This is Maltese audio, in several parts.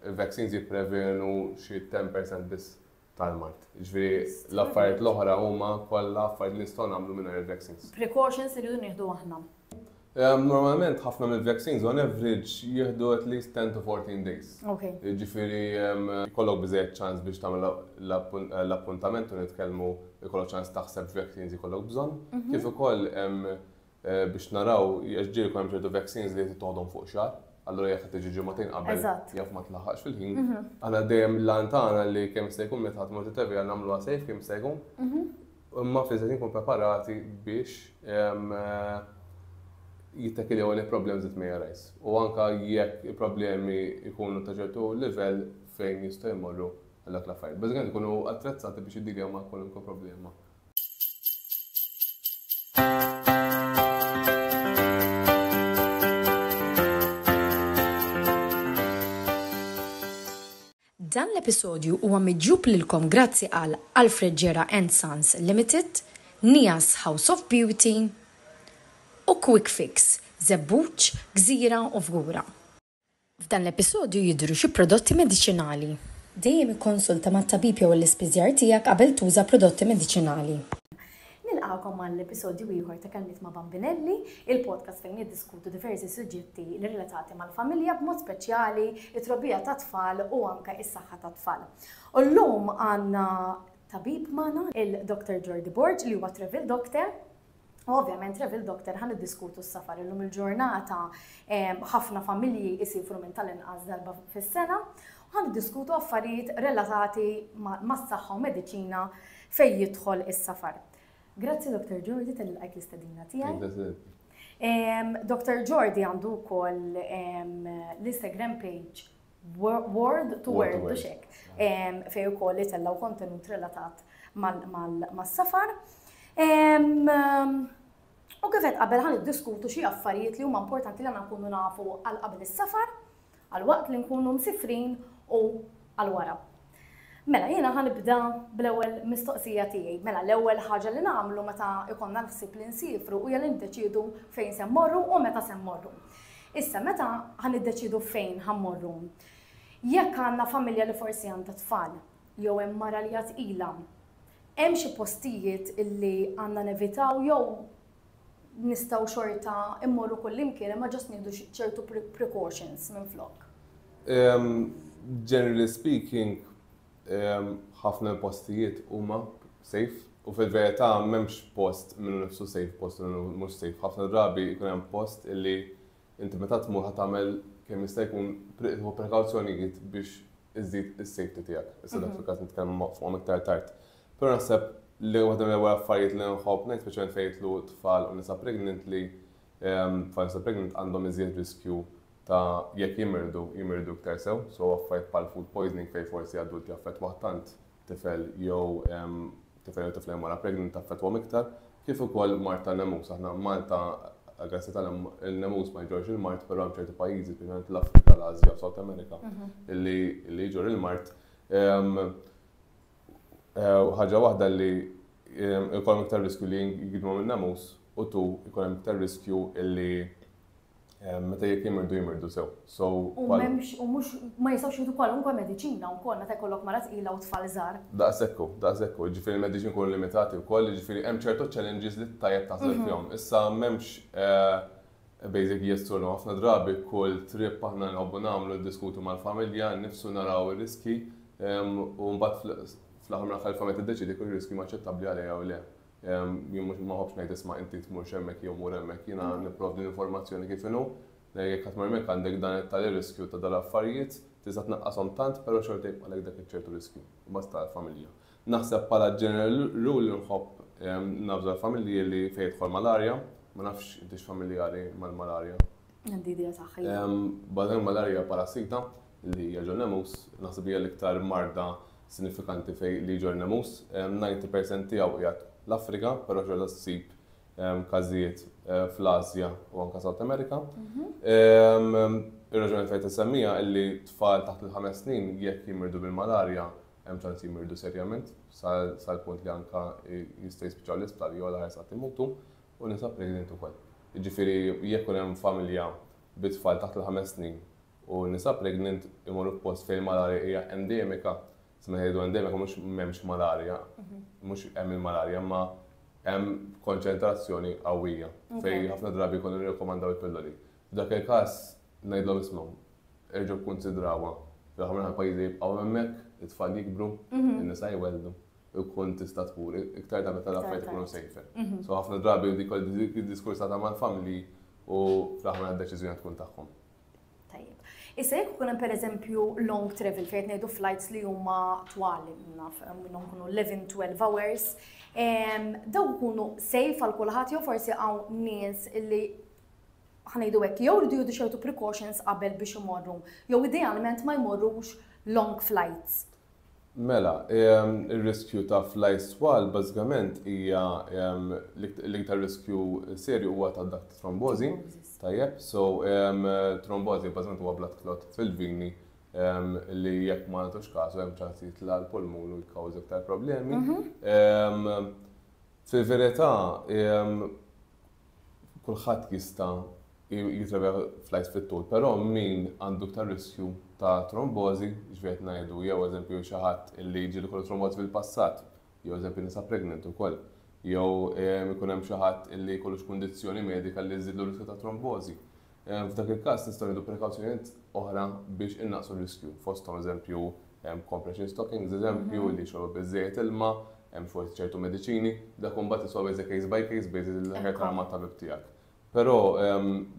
Il-vaccines jipprevenu xi 10% biss tal-mard. Jiġifieri l-affarijiet l-oħra huma kollha affarijiet li nistgħu nagħmlu mingħajr il-vaccines. Precautions li rridu nieħdu aħna. Normalment ħafna mill-vaccines on average jieħdu at least 10 to 14 days. Okay. Jiġifieri jkollok biżejjed ċans biex tagħmel l-appuntament u nitkellmu jkollok ċans taħseb x'vaccines jkollok bżonn. Kif ukoll biex naraw, għax ġieli jkun hemm ċertu vaccines li tittoħodhom fuq xahar, allura jekk qed tiġi ġimagħtejn qabel Eżatt. jaf ma tlaħħaqx fil-ħin. Aħna dejjem l-għan tagħna li kemm jista' jkun meta tmur titevja nagħmluha safe kemm jista' jkun. Imma fl-istess ħin nkunu preparati biex em, eh, jittekiljaw any problems that may arise. U anka jekk il-problemi jkunu ta' ċertu livell fejn jistgħu jmorru għal dak l-affarijiet. Bażikament ikunu attrezzati biex jiddiljaw ma' kwalunkwe problema Dan l-episodju huwa miġjub lilkom grazzi għal Alfred Gera and Sons Limited, Nias House of Beauty u Quick Fix, Żebbuġ, Gżira u Fgura. F'dan l-episodju jidhru xi prodotti mediċinali. Dejjem ikkonsulta mat-tabib jew l-ispiżjar tiegħek qabel tuża prodotti mediċinali. Nilqagħkom għal episodju ieħor ta' Kelmiet ma' Bambinelli, il-podcast fejn niddiskutu diversi suġġetti relatati mal-familja b'mod speċjali t-trobbija tat-tfal u anke s-saħħa tat-tfal. U llum għandna tabib magħna, il-Dr. Jordi Borg li huwa Travel Doctor. U ovvjament Travel Doctor ħan iddiskutu s-safar illum il-ġurnata ħafna familji jisifru minn tal-inqas darba fis-sena u ħan iddiskutu affarijiet relatati mas-saħħa u mediċina fejn jidħol is-safar. Grazzi Dr. Jordi tal-ilqajk l-istadina tiegħi. Dr. Jordi għandu wkoll l-Instagram page Word to word u xek. Fej u koll li tellaw kontenut relatat mal-safar. U kifet qabel ħan diskutu xie affarijiet li huma importanti li għana nkunu nafu għal qabel is-safar, għal waqt li nkunu msifrin u għal wara. Mela, jiena ħa nibda bl-ewwel mistoqsija tiegħi. Mela, l-ewwel ħaġa li nagħmlu meta ikonna l-ħsieb li nsifru hija li niddeċiedu fejn se mmorru u meta se mmorru. Issa, meta ħa niddeċiedu fejn ħa mmorru? Jekk għandna familja li forsi għandha tfal, jew hemm mara li għad ilha, hemm xi postijiet illi għandna nevitaw jew nistgħu xorta immorru kullimkien imma ġost nieħdu ċertu precautions minflok. Generally speaking, ħafna postijiet huma safe u fil-verità m'hemmx post minnu nifsu safe post minnu mhux safe. Ħafna drabi jkun hemm post illi Inti meta tmur ħa tagħmel kemm jista' jkun tieħu prekawzjonijiet biex iżżid is-safety tiegħek. Issa dak fil-każ nitkellmu fuqhom iktar tard. Però naħseb li waħda mill-ewwel affarijiet li nħobb ngħid speċjalment fejn jidħlu tfal u nisa pregnant li tfal nisa pregnant għandhom iżjed riskju ta' jekk jimirdu, jimirdu iktar sew, so affarijiet bħal food poisoning fejn forsi adult jaffettwah tant tifel jew tifel jew tifla jew mara pregnant taffettwhom iktar, kif ukoll mard tan-nemus. Aħna Malta grazzi tal il-nemus ma jġorrx il-mard, però hemm ċerti pajjiżi, speċjalment l-Afrika, l-Ażja u South America, li jġorr il-mard. Ħaġa waħda li jkollhom iktar riskju li jgidmu min-nemus u tu jkun hemm iktar riskju li Eh, meta jekk jimirdu jimirdu sew. So, u memx, u mux, ma jistawx jidu kwalunkwe medicina u kol, meta jkollok mara tqila u tfal zar. Da' sekku, da' sekku, ġifiri medicin kun limitati u kol, ġifiri hemm ċertu challenges li tajab taħseb mhm. fjom. Issa memx, eh, basic yes or no, ħafna drabi kull trip aħna nħobbu namlu diskutu mal-familja, nifsu naraw il-riski, u mbagħad fl-aħħar mill-aħħar il-familja tiddeċidi kull riski maċċettabbli għalija u le. Jien mhux ma ħobbx ngħid isma' inti tmurx hemmhekk jew mur hemmhekk, jiena nipprovdi l-informazzjoni kif inhu. Jekk qed tmur hemmhekk għandek dan it-tali riskju ta' dal-affarijiet, tista' tnaqqashom tant però xorta jibqagħlek dak iċ-ċertu riskju, imbagħad tal-familja. Naħseb bħala general rule nħobb navża l-familji li fejn jidħol malarja, ma nafx inti x'familjari mal-malarja. Għandi idea saħħa. Badem malarja parassita li jaġor nemus, naħseb hija l-iktar marda sinifikanti fej li jġor nemus. 90% tiegħu qiegħed l-Afrika, però xorta ssib każijiet eh, fl-Asja u anka South America. Mhm. Ir-raġuni fejn tisemmija illi tfal taħt il-ħames snin jekk jimirdu bil-malarja hemm ċans jimirdu serjament sal-punt li anka jista' jispiċċaw l-isptar jew l-ħarsa timutu. U nisa pregnant ukoll. Jiġifieri jekk ikun hemm familja bi tfal taħt il-ħames snin u nisa pregnant imorru f'post fejn il-malarja hija endemika, se meta ngħidu endemika mhux m'hemmx malarja, mhux hemm il-malarja imma hemm konċentrazzjoni qawwija fejn ħafna drabi jkunu jirrakkomandaw il-pilloli. F'dak il-każ ngħidlhom ismgħu, erġgħu kkunsidrawha, fl-aħħar mill-aħħar il-pajjiżi jibqgħu hemmhekk, it-tfal jikbru, in-nisa jwelldu. ikun tista' tmur iktar ta' meta l-affarijiet ikunu safer. Mhm. So ħafna drabi dik id-diskursata mal-familji u fl-aħħar d-deċiżjoni tkun tagħhom. Tajjeb. Issa jekk ikun hemm pereżempju long travel fejn ngħidu flights li huma twal naf minnhom kunu 11-12 hours, daw ikunu safe għal kulħadd jew forsi hawn nies illi ħanejdu hekk jew rridu jieħdu xewtu precautions qabel biex imorru, jew idealment ma jmorrux long flights. Mela, ir-riskju ta' fly swalb bażikament hija l-iktar riskju serju huwa ta' dak ta' trombożi. Tajjeb, so trombożi bażikament huwa blood clot fil-vini li jekk ma nagħtux kasu hemm ċans li jitla' għall-pulmun u jikkawża iktar problemi. Fil-verità kulħadd jista' jitrevja flights fit-tul, però min għandu iktar riskju ta' trombożi, jiġifieri qed ngħidu jew eżempju xi ħadd li ġieli kollu trombożi fil-passat, jew eżempju nisa pregnant ukoll, jew ikun hemm xi ħadd li jkollu xi kundizzjoni medika li żżidlu r-riskju ta' trombożi. F'dak il-każ nistgħu nieħdu prekawzjonijiet oħra biex innaqqsu r-riskju, fosthom eżempju compression stockings eżempju li jixorbu biżżejjed ilma, hemm xorti ċertu mediċini, dak imbagħad isolvi as a case by case basis il-ħajja tal-tabib tiegħek. Pero,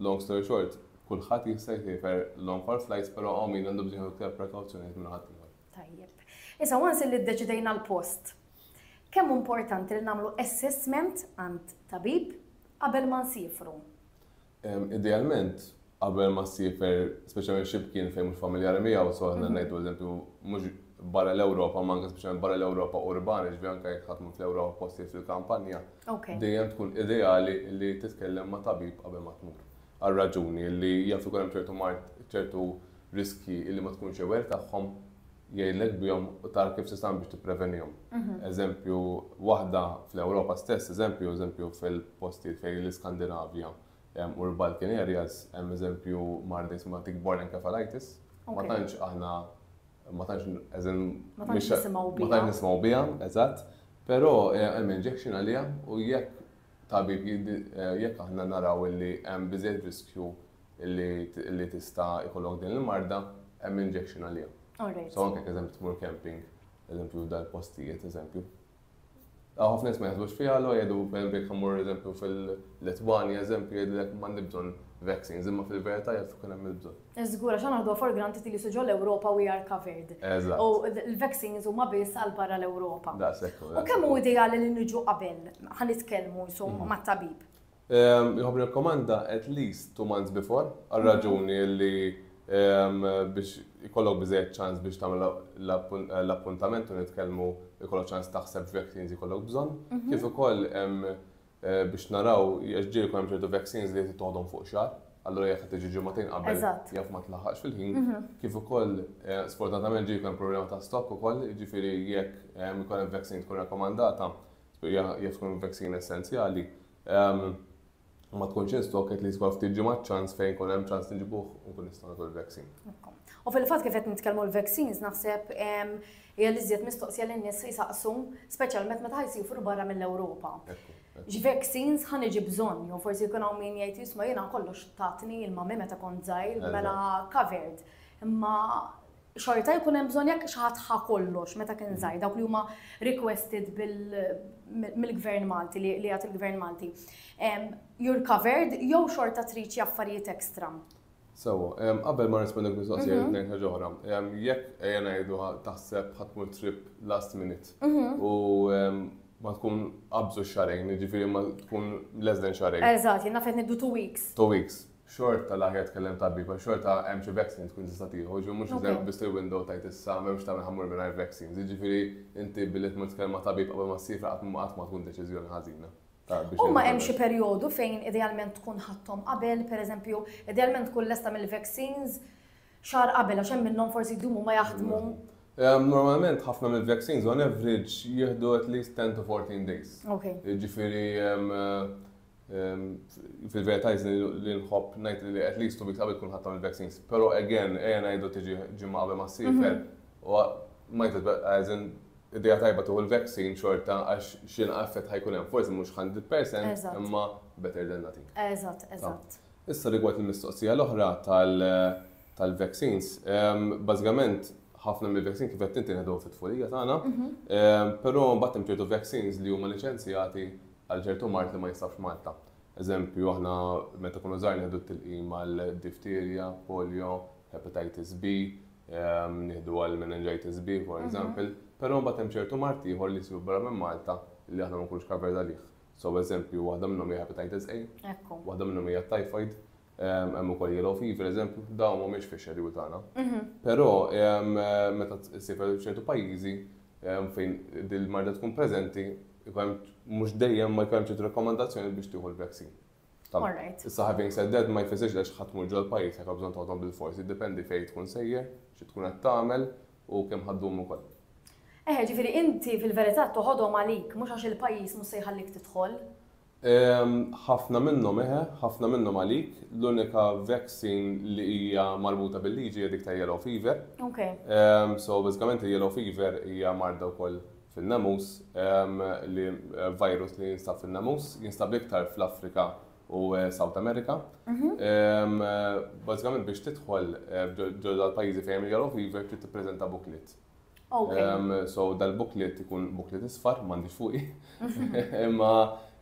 long story short, kulħadd jista' jsifer long haul flights pero hawn min għandu bżonn iktar prekawzjonijiet minn ħaddieħor. Tajjeb. Issa once illi ddeċidejna l-post, kemm importanti li nagħmlu assessment għand tabib qabel ma nsifru? Idealment, qabel ma ssiefer speċjalment xi mkien fejn mhux familjari miegħu, so aħna mhm. ngħidu eżempju mhux barra l-Ewropa, ma anke speċjalment barra l-Ewropa urbani, ġvi anke jekk ħadd mhux l-Ewropa postijiet fil-kampanja. Dejjem tkun ideali li titkellem ma' tabib qabel ma tmur. Għal raġuni li jaf ikun hemm ċertu mart ċertu riski li ma tkunx ewer tagħhom jgħidlek bihom u tar kif tista' biex tipprevenihom. Mhm. Eżempju, waħda fl-Ewropa stess, eżempju, eżempju fil-postijiet fejn l-Iskandinavja u l-Balkan areas, hemm eżempju mard li jisma' tick borne encephalitis. Ma tantx aħna ma tantx eżem ma tantx nisimgħu biha. Ma tantx nisimgħu biha, eżatt. Però eh, hemm injection għaliha u jekk tabib eh, jekk aħna naraw illi hemm biżejjed riskju li tista' jkollok din il-marda, hemm injection għaliha. So anke eżempju tmur camping, eżempju dal-postijiet, eżempju. Ħafna nies ma jaħsbux fiha, allura jgħidu pereżempju jekk immur eżempju fil-Litwanja eżempju jgħidlek m'għandi bżonn vaccines, imma fil-verità jaf ikun hemm il-bżonn. Żgur għax aħna naħduha for granted li suġol Ewropa we are covered. U l-vaccines huma biss għal barra l-Ewropa. U kemm hu ideali li niġu qabel ħa nitkellmu insomma mhm. mat-tabib. Job irrakkomanda at least two months before għar-raġuni li biex ikollok biżżejjed ċans biex tagħmel l-appuntament u nitkellmu ikollok ċans taħseb x'vaccines ikollok bżonn, kif ukoll biex naraw għax ġieli jkun hemm ċertu vaccines li tittoħodhom fuq xahar, allura jekk qed tiġi ġimagħtejn qabel jaf ma tlaħħaqx fil-ħin, kif ukoll sfortunatament ġieli jkun hemm problema ta' stock ukoll, jiġifieri jekk ikun hemm vaccine tkun rakkomandata, jaf tkun vaccine essenzjali, ma tkunx in stock at least għal ftit ġimgħat ċans fejn kun hemm ċans nġibuh u nkun nistgħu nagħtu l-vaccine. U fil-fatt kif qed nitkellmu l-vaccines naħseb hija li żjed mistoqsija lin nies jsaqsu, speċjalment meta jsifru barra mill-Ewropa. Vaccines ħan iġi bżonn, jew forsi jkun hawn min jgħid jisma' jiena kollox tatni il-mami meta kont żgħir mela covered. Imma xorta jkun hemm bżonn jekk xi ħadd ħa kollox meta kien żgħir dawk li huma requested mill-Gvern Malti li jagħt il-Gvern Malti. You're covered jew xorta trid xi affarijiet ekstra. Sewa, qabel ma nisma' dik mistoqsija mhm. ngħid ħaġa oħra. Jekk ejja ngħidu taħseb ħatmur trip last minute mhm. u ma tkun qabżu xarejn, ġifieri ma tkun less than xarejn. Eżatt, jien nafet niddu two weeks. Two weeks. xorta l-aħjar tkellem tabib għax xorta hemm xi vaccine tkun tista' tieħu, ġifieri mhux se tibbi ssir window tgħid issa m'hemmx tagħmel ħa mmur mingħajr vaccines. Jiġifieri inti billi tmur titkellem ma' tabib qabel ma ssiefer qatt ma qatt ma tkun deċiżjoni ħażina. Huma hemm xi perjodu fejn idealment tkun ħadthom qabel, pereżempju, idealment tkun lesta mill-vaccines xahar qabel għax hemm minnhom forsi jdumu ma jaħdmu. Normalment ħafna mill-vaccines on average jieħdu at least 10 to 14 days. Jiġifieri Fil-verità jizni li nħobb najt li at least two weeks qabel kun ħattam il-vaccines. Pero again, eja najdu tiġi ġimma qabel ma s-sifer. Mhm. U might as well, as in, id-dija tajba tuħu l-vaccine xorta għax xin għaffet ħajkun hemm. Forse mux 100% imma better than nothing. Eżat, eżat. Issa rigward il-mistoqsija l-oħra tal-vaccines, bazzikament ħafna mill-vaccine kif qed tinti nħedu fit-tfulija tagħna, mhm. pero mbagħad hemm ċertu vaccines li huma liċenzjati għal ċertu mard li ma jinsabx Malta. Eżempju, aħna meta kunu żgħar nieħdu t-tilqim għal difterja, polio, hepatitis B, nieħdu għal meningitis B, for example, però mbagħad hemm ċertu mard ieħor li jsiru barra minn Malta li aħna ma nkunux covered għalih. So eżempju, waħda minnhom hija hepatitis A, waħda minnhom hija t-typhoid, Hemm ukoll yellow fever, eżempju, dawn mhumiex fix-xedule tagħna. Però meta ssib ċertu pajjiżi fejn din il-marda tkun preżenti, mhux dejjem ma jkollhom ċertu rakkomandazzjoni biex tieħu l-vaccine. Issa having said that ma jfissirx li għax ħadd mur ġol pajjiż jekk bżonn toħodhom bil-fors, jiddependi fejn tkun sejjer, xi tkun qed tagħmel u kemm ħa ddum ukoll. Eħe, ġifieri inti fil-verità toħodhom għalik mhux għax il-pajjiż mhux se jħallik tidħol. Ehm, ħafna minnhom eħe, ħafna minnhom għalik. L-unika vaccine li hija marbuta bil-liġi hija dik ta' yellow fever. Ok. Ehm, so bażikament il-yellow fever hija marda wkoll fin-namus, ehm, li eh, virus li jinstab fin-namus, jinstab iktar fl-Afrika u eh, South America. Mhm. Ehm, eh, Bażikament biex tidħol eh, ġo- ġo dal-pajjiżi fejn hemm il-yellow fever trid tippreżenta booklet. Okay. Um, so dal-booklet ikun booklet isfar, mandi fuqi. Imma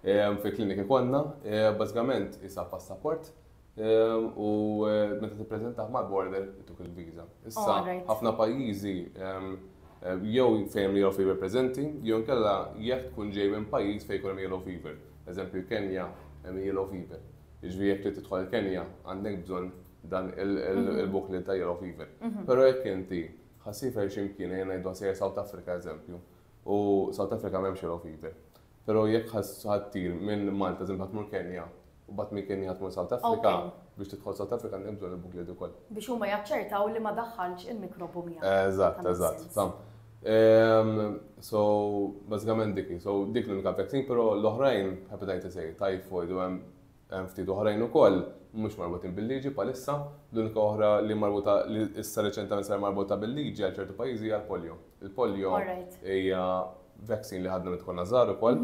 um, fi klinik ikonna, eh, bazzgament isa passaport um, u eh, meta tippreżentaħ mal-border ituk il-viza. Issa ħafna pajjiżi um, eh, jew fejn yellow fever preżenti, jew kella jekk tkun ġej minn pajjiż fejn kolom yellow fever. Eżempju Kenja hemm yellow fever. Iġvi jekk li tidħol Kenja għandek bżonn dan il-booklet mhm. ta' yellow fever. Mhm. Però jekk inti Ħa siefer xi mkien, ejja ngħidu ħa sejjer South Africa eżempju, u South Africa m'hemmx yellow fever. Però jekk ħa ħa ttir minn Malta eżempju ħa tmur Kenya, u mbagħad minn Kenya ħa tmur South Africa, Okay. biex tidħol South Africa għandek bżonn il-booklet ukoll. Biex huma jaċċertaw li ma daħħaltx il-mikrobu miegħek. Eżatt, That makes eżatt, sense. fam. Ehm, So, bażikament dik hi. So, dik l-unika vaccine, però l-oħrajn, hepatitis A, typhoid, u hemm Hemm ftit oħrajn ukoll mhumiex marbutin bil-liġi bħalissa. L-unika oħra li marbuta li issa reċentament saret marbuta bil-liġi għal ċertu pajjiżi hija l-polio. Il-polio hija vaccine li ħadna meta konna żgħar ukoll,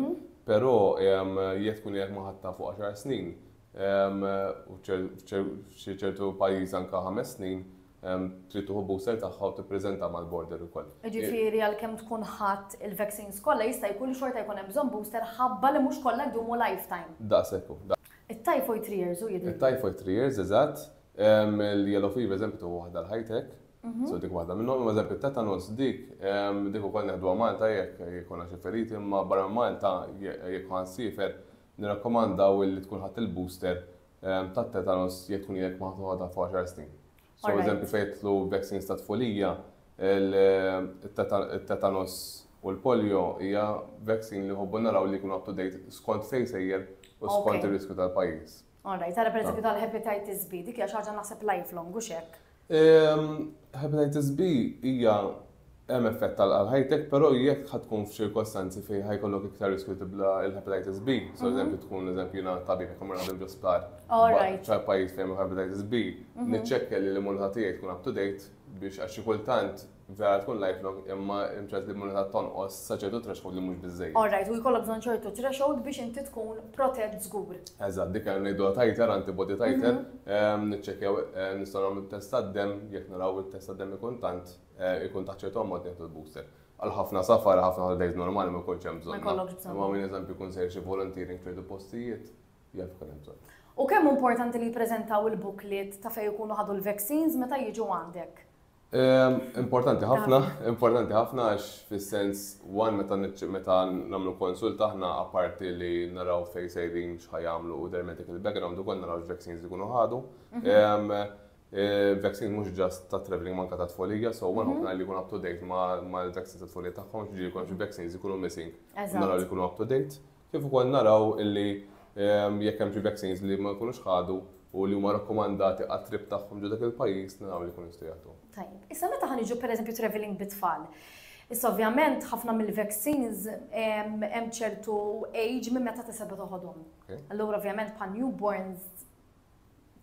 però jekk tkun jekk ma ħadtha fuq għaxar snin, f'ċertu pajjiż anke ħames snin, trid tieħu booster tagħha u tippreżenta mal-border ukoll. Jiġifieri għalkemm tkun ħadt il-vaccines kollha jista' jkun li xorta jkun hemm bżonn booster ħabba li mhux kollha jdumu lifetime. Daqshekk hu. It-typhoid three years hu jidhirli. It-typhoid three years, eżatt. Il-yellow fever eżempju tieħu waħda għal ħajtek. So dik waħda minnhom. Imma eżempju t-tetanus dik, dik ukoll neħduha Malta jekk ikollna xi feriti imma barra Malta jekk ħansiefer nirrakkomandaw li tkun ħadt il-booster Ehm, ta' tetanos jekk tkun jekk ma toħodha fuq 10 snin. So, eżempju, fejtlu vaccines ta' tfulija, il-tetanos u l-polio hija vaccine li ħobbu naraw li jkun up to date skont fejn sejjer u skont ir-riskju tal-pajjiż. Alright, għara per eżempju tal-hepatitis B, dik hija xi ħaġa naħseb lifelong u xek. Hepatitis B hija hemm effett għal għal ħajtek, però jekk ħa tkun f'ċirkostanzi fejn ħa jkollok iktar riskju tibla il-hepatitis B, so mhm. eżempju tkun eżempju jiena tabib jekk imur għandhom ġosptar. Ċar pajjiż fejn hepatitis B, mhm. niċċekkja li l-immunità tiegħi tkun up to date biex għax kultant Vera tkun lifelong imma hemm ċans li l-immunità tonqos sa ċertu threshold li mhux biżżejjed. All right, u jkollok bżonn ċertu threshold biex inti tkun protett żgur. Eżatt, dik għandna ngħiduha titer, antibody titer, mhm. niċċekkjaw eh, nistgħu nagħmlu t-test tad-demm, jekk naraw it-test tad-demm ikun tant, eh, ikun ta' ċertu ammont nieħdu l-booster. Għal ħafna safar, ħafna holidays normali ma jkunx hemm bżonn. Ma minn eżempju kun sejr xi volunteering ċertu postijiet, jaf kun hemm bżonn. U kemm importanti li jippreżentaw il-booklet ta' fejn ikunu ħadu l-vaccines meta jiġu għandek? Importanti ħafna, importanti ħafna għax fis-sens one meta meta nagħmlu konsult aħna apparti li naraw fejn sejrin x'ħajamlu u their medical background ukoll naraw x-vaccines ikunu ħadu. Mhm. Eh, vaccine mhux ġast ta' traveling manka ta' tfolija, so one mhm. ħafna li jkun up to date ma' l-vaccine ta' tfolija tagħhom, ġiġi jkun xi vaccines ikunu missing. Naraw li jkunu up to date. Kif ukoll naraw li jekk hemm xi vaccines li ma jkunux ħadu u li huma rakkomandati għat-trip tagħhom ġo dak il-pajjiż naraw li jkunu jistgħu jagħtuhom. Tajjeb. Issa meta ħa niġu pereżempju travelling bit-tfal. Issa ovvjament ħafna mill-vaccines hemm ċertu age minn meta tista' tibda toħodhom. Allura ovvjament bħal newborns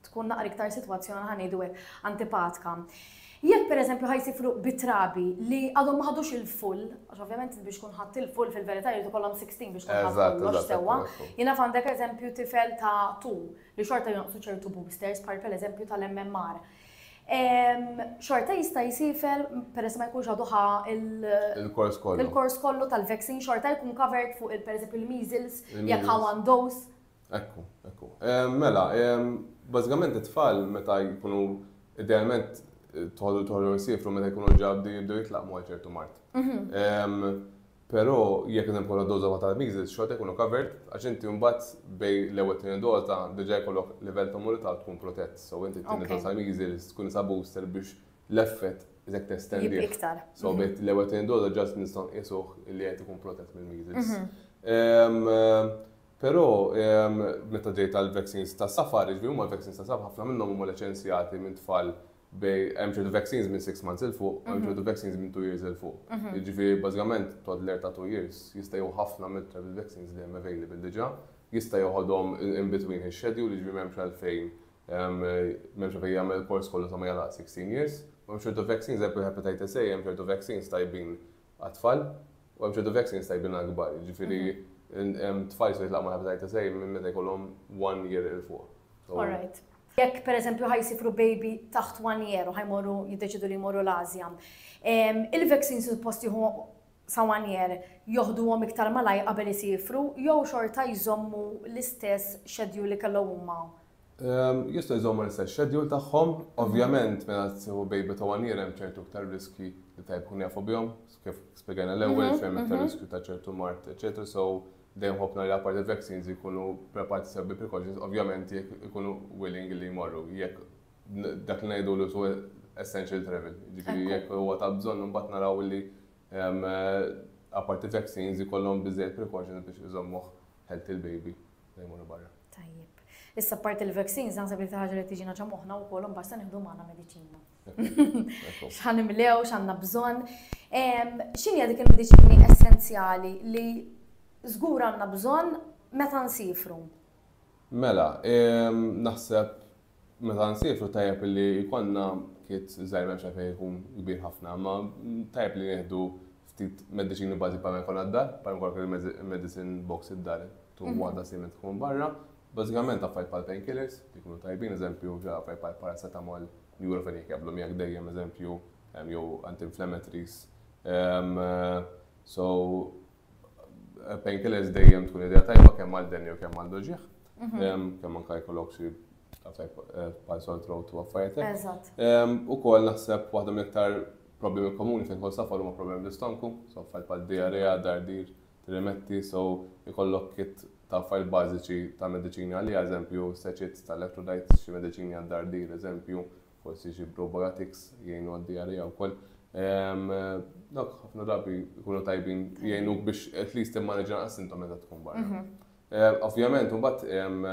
tkun naqra iktar sitwazzjoni ħa ngħidu hekk antipatka. Jekk pereżempju ħa jsir fruq bi trabi li għadhom ma ħadux il-full, għax ovvjament biex tkun ħadd il-full fil-verità jrid ikollhom 16 biex tkun ħadd kollox sewwa. Jiena f'għandek eżempju tifel ta' tu li xorta jonqsu ċertu boosters bħal pereżempju tal-MMR. Xorta jista' jisifel peress ma jkunx għadu ħa il-kors kollu. Il-kors kollu tal-vaccine xorta jkun covered fuq il-pereżempju il-measles jekk ħa one dose Hekk hu, hekk hu. Mela, bażikament it-tfal meta jkunu idealment toħodhom toħodhom isiefru meta jkunu ġa bdew jibdew jitlaqmu għal ċertu mard. Però jekk qed nkollha doża waħda tal-measles xorta jkunu covered għax inti mbagħad bejn l-ewwel u t-tieni doża diġà jkollok livell ta' immunità u tkun protett. So inti t-tieni doża tal-measles tkun qisha booster biex l-effett iżjed testendih. Jibqa' iktar. So bejn l-ewwel u t-tieni doża ġast nistgħu nqisuh li qed ikun protett mill-measles. Però meta ġejt għall-vaccines ta' safar, jiġifieri huma l-vaccines ta' safar, ħafna minnhom huma liċenzjati minn tfal bejn hemm ċertu vaccines minn six months 'il fuq, hemm ċertu vaccines minn two years 'il fuq. Jiġifieri bażikament toddler ta' two years jista' jieħu ħafna mill-travel vaccines li hemm available diġà, jista' jeħodhom in between his schedule, jiġifieri m'hemmx għalfejn m'hemmx għalfejn jagħmel il-course kollu sa ma jagħlaq sixteen years. U hemm ċertu vaccines, per eżempju l-hepatitis A, hemm ċertu vaccines tajbin għat-tfal, u hemm ċertu vaccines tajbin għall-kbar, jiġifieri hemm tfal jistgħu jitlaqgħu ma' hepatitis A minn meta jkollhom one year 'il fuq. Alright. Jekk pereżempju ħa jsifru baby taħt one year u ħa jmorru jiddeċidu li jmorru l-Ażja, il-vaccines suppost jieħu sa one year joħduhom iktar malajr qabel isifru jew xorta jżommu l-istess schedule li kellhom huma Ehm, jistgħu jżommu l-istess schedule tagħhom, ovvjament meta tieħu baby ta' one year hemm ċertu iktar riski li tajb kun jafu bihom, kif spjegajna l-ewwel mhm, fejn iktar mhm. riskju ta' ċertu mart, eċetera, so dejjem ħobna li apparti vaccines jkunu preparati sew bi precautions, ovvjament jekk ikunu willing li jmorru, jekk dak li ngħidu l essential travel, ġifieri jekk huwa ta' bżonn imbagħad naraw li ehm, apparti vaccines jkollhom biżejjed precautions biex iżommuh healthy l-baby. Bej imorru barra. Tajjeb. Issa parti l-vaccines naħseb li ħaġa li tiġina ġa moħħna wkoll imbagħad se nieħdu magħna mediċina. X'ħan imlew, x'għandna bżonn. X'inhi dik il-mediċini essenzjali li żgur għandna bżonn meta nsifru? Mela, naħseb Meta nsiefru tajjeb li jkollna kit żgħir m'hemmx għalfejn ikun kbir ħafna, imma tajjeb li nieħdu ftit mediċini bażi bħalma jkollna d-dar, bħalma jkollok il-medicine box id-dar, tieħu waħda simili meta tkun barra. Bażikament affarijiet bħal painkillers li jkunu tajbin, eżempju ġa affarijiet bħal paracetamol, nurofen jekk jaqblu miegħek dejjem eżempju, jew anti-inflammatories. So, Painkillers dejjem tkun idea tajba kemm għal denni u kemm għal doġieħ. Mhm. Kemm anka jkollok xi pal sort road to affarijiet. U kol naħseb waħda mill-iktar problemi komuni fejn kol safar huma problemi l-istonku, so affarijiet bħal diarrea, dardir, trimetti, so jkollok kit ta' affarijiet bażiċi ta' mediċini għalli, eżempju, seċit ta' electrolytes, xi mediċini għad-dardir, eżempju, forsi xi probiotics jgħinu għaddi għalija wkoll. Ehm, dawk ħafna drabi jkunu tajbin jgħinuk biex at least immaneġa naqas intom meta tkun barra. Mhm. Ehm, ovvjament, mbagħad ehm,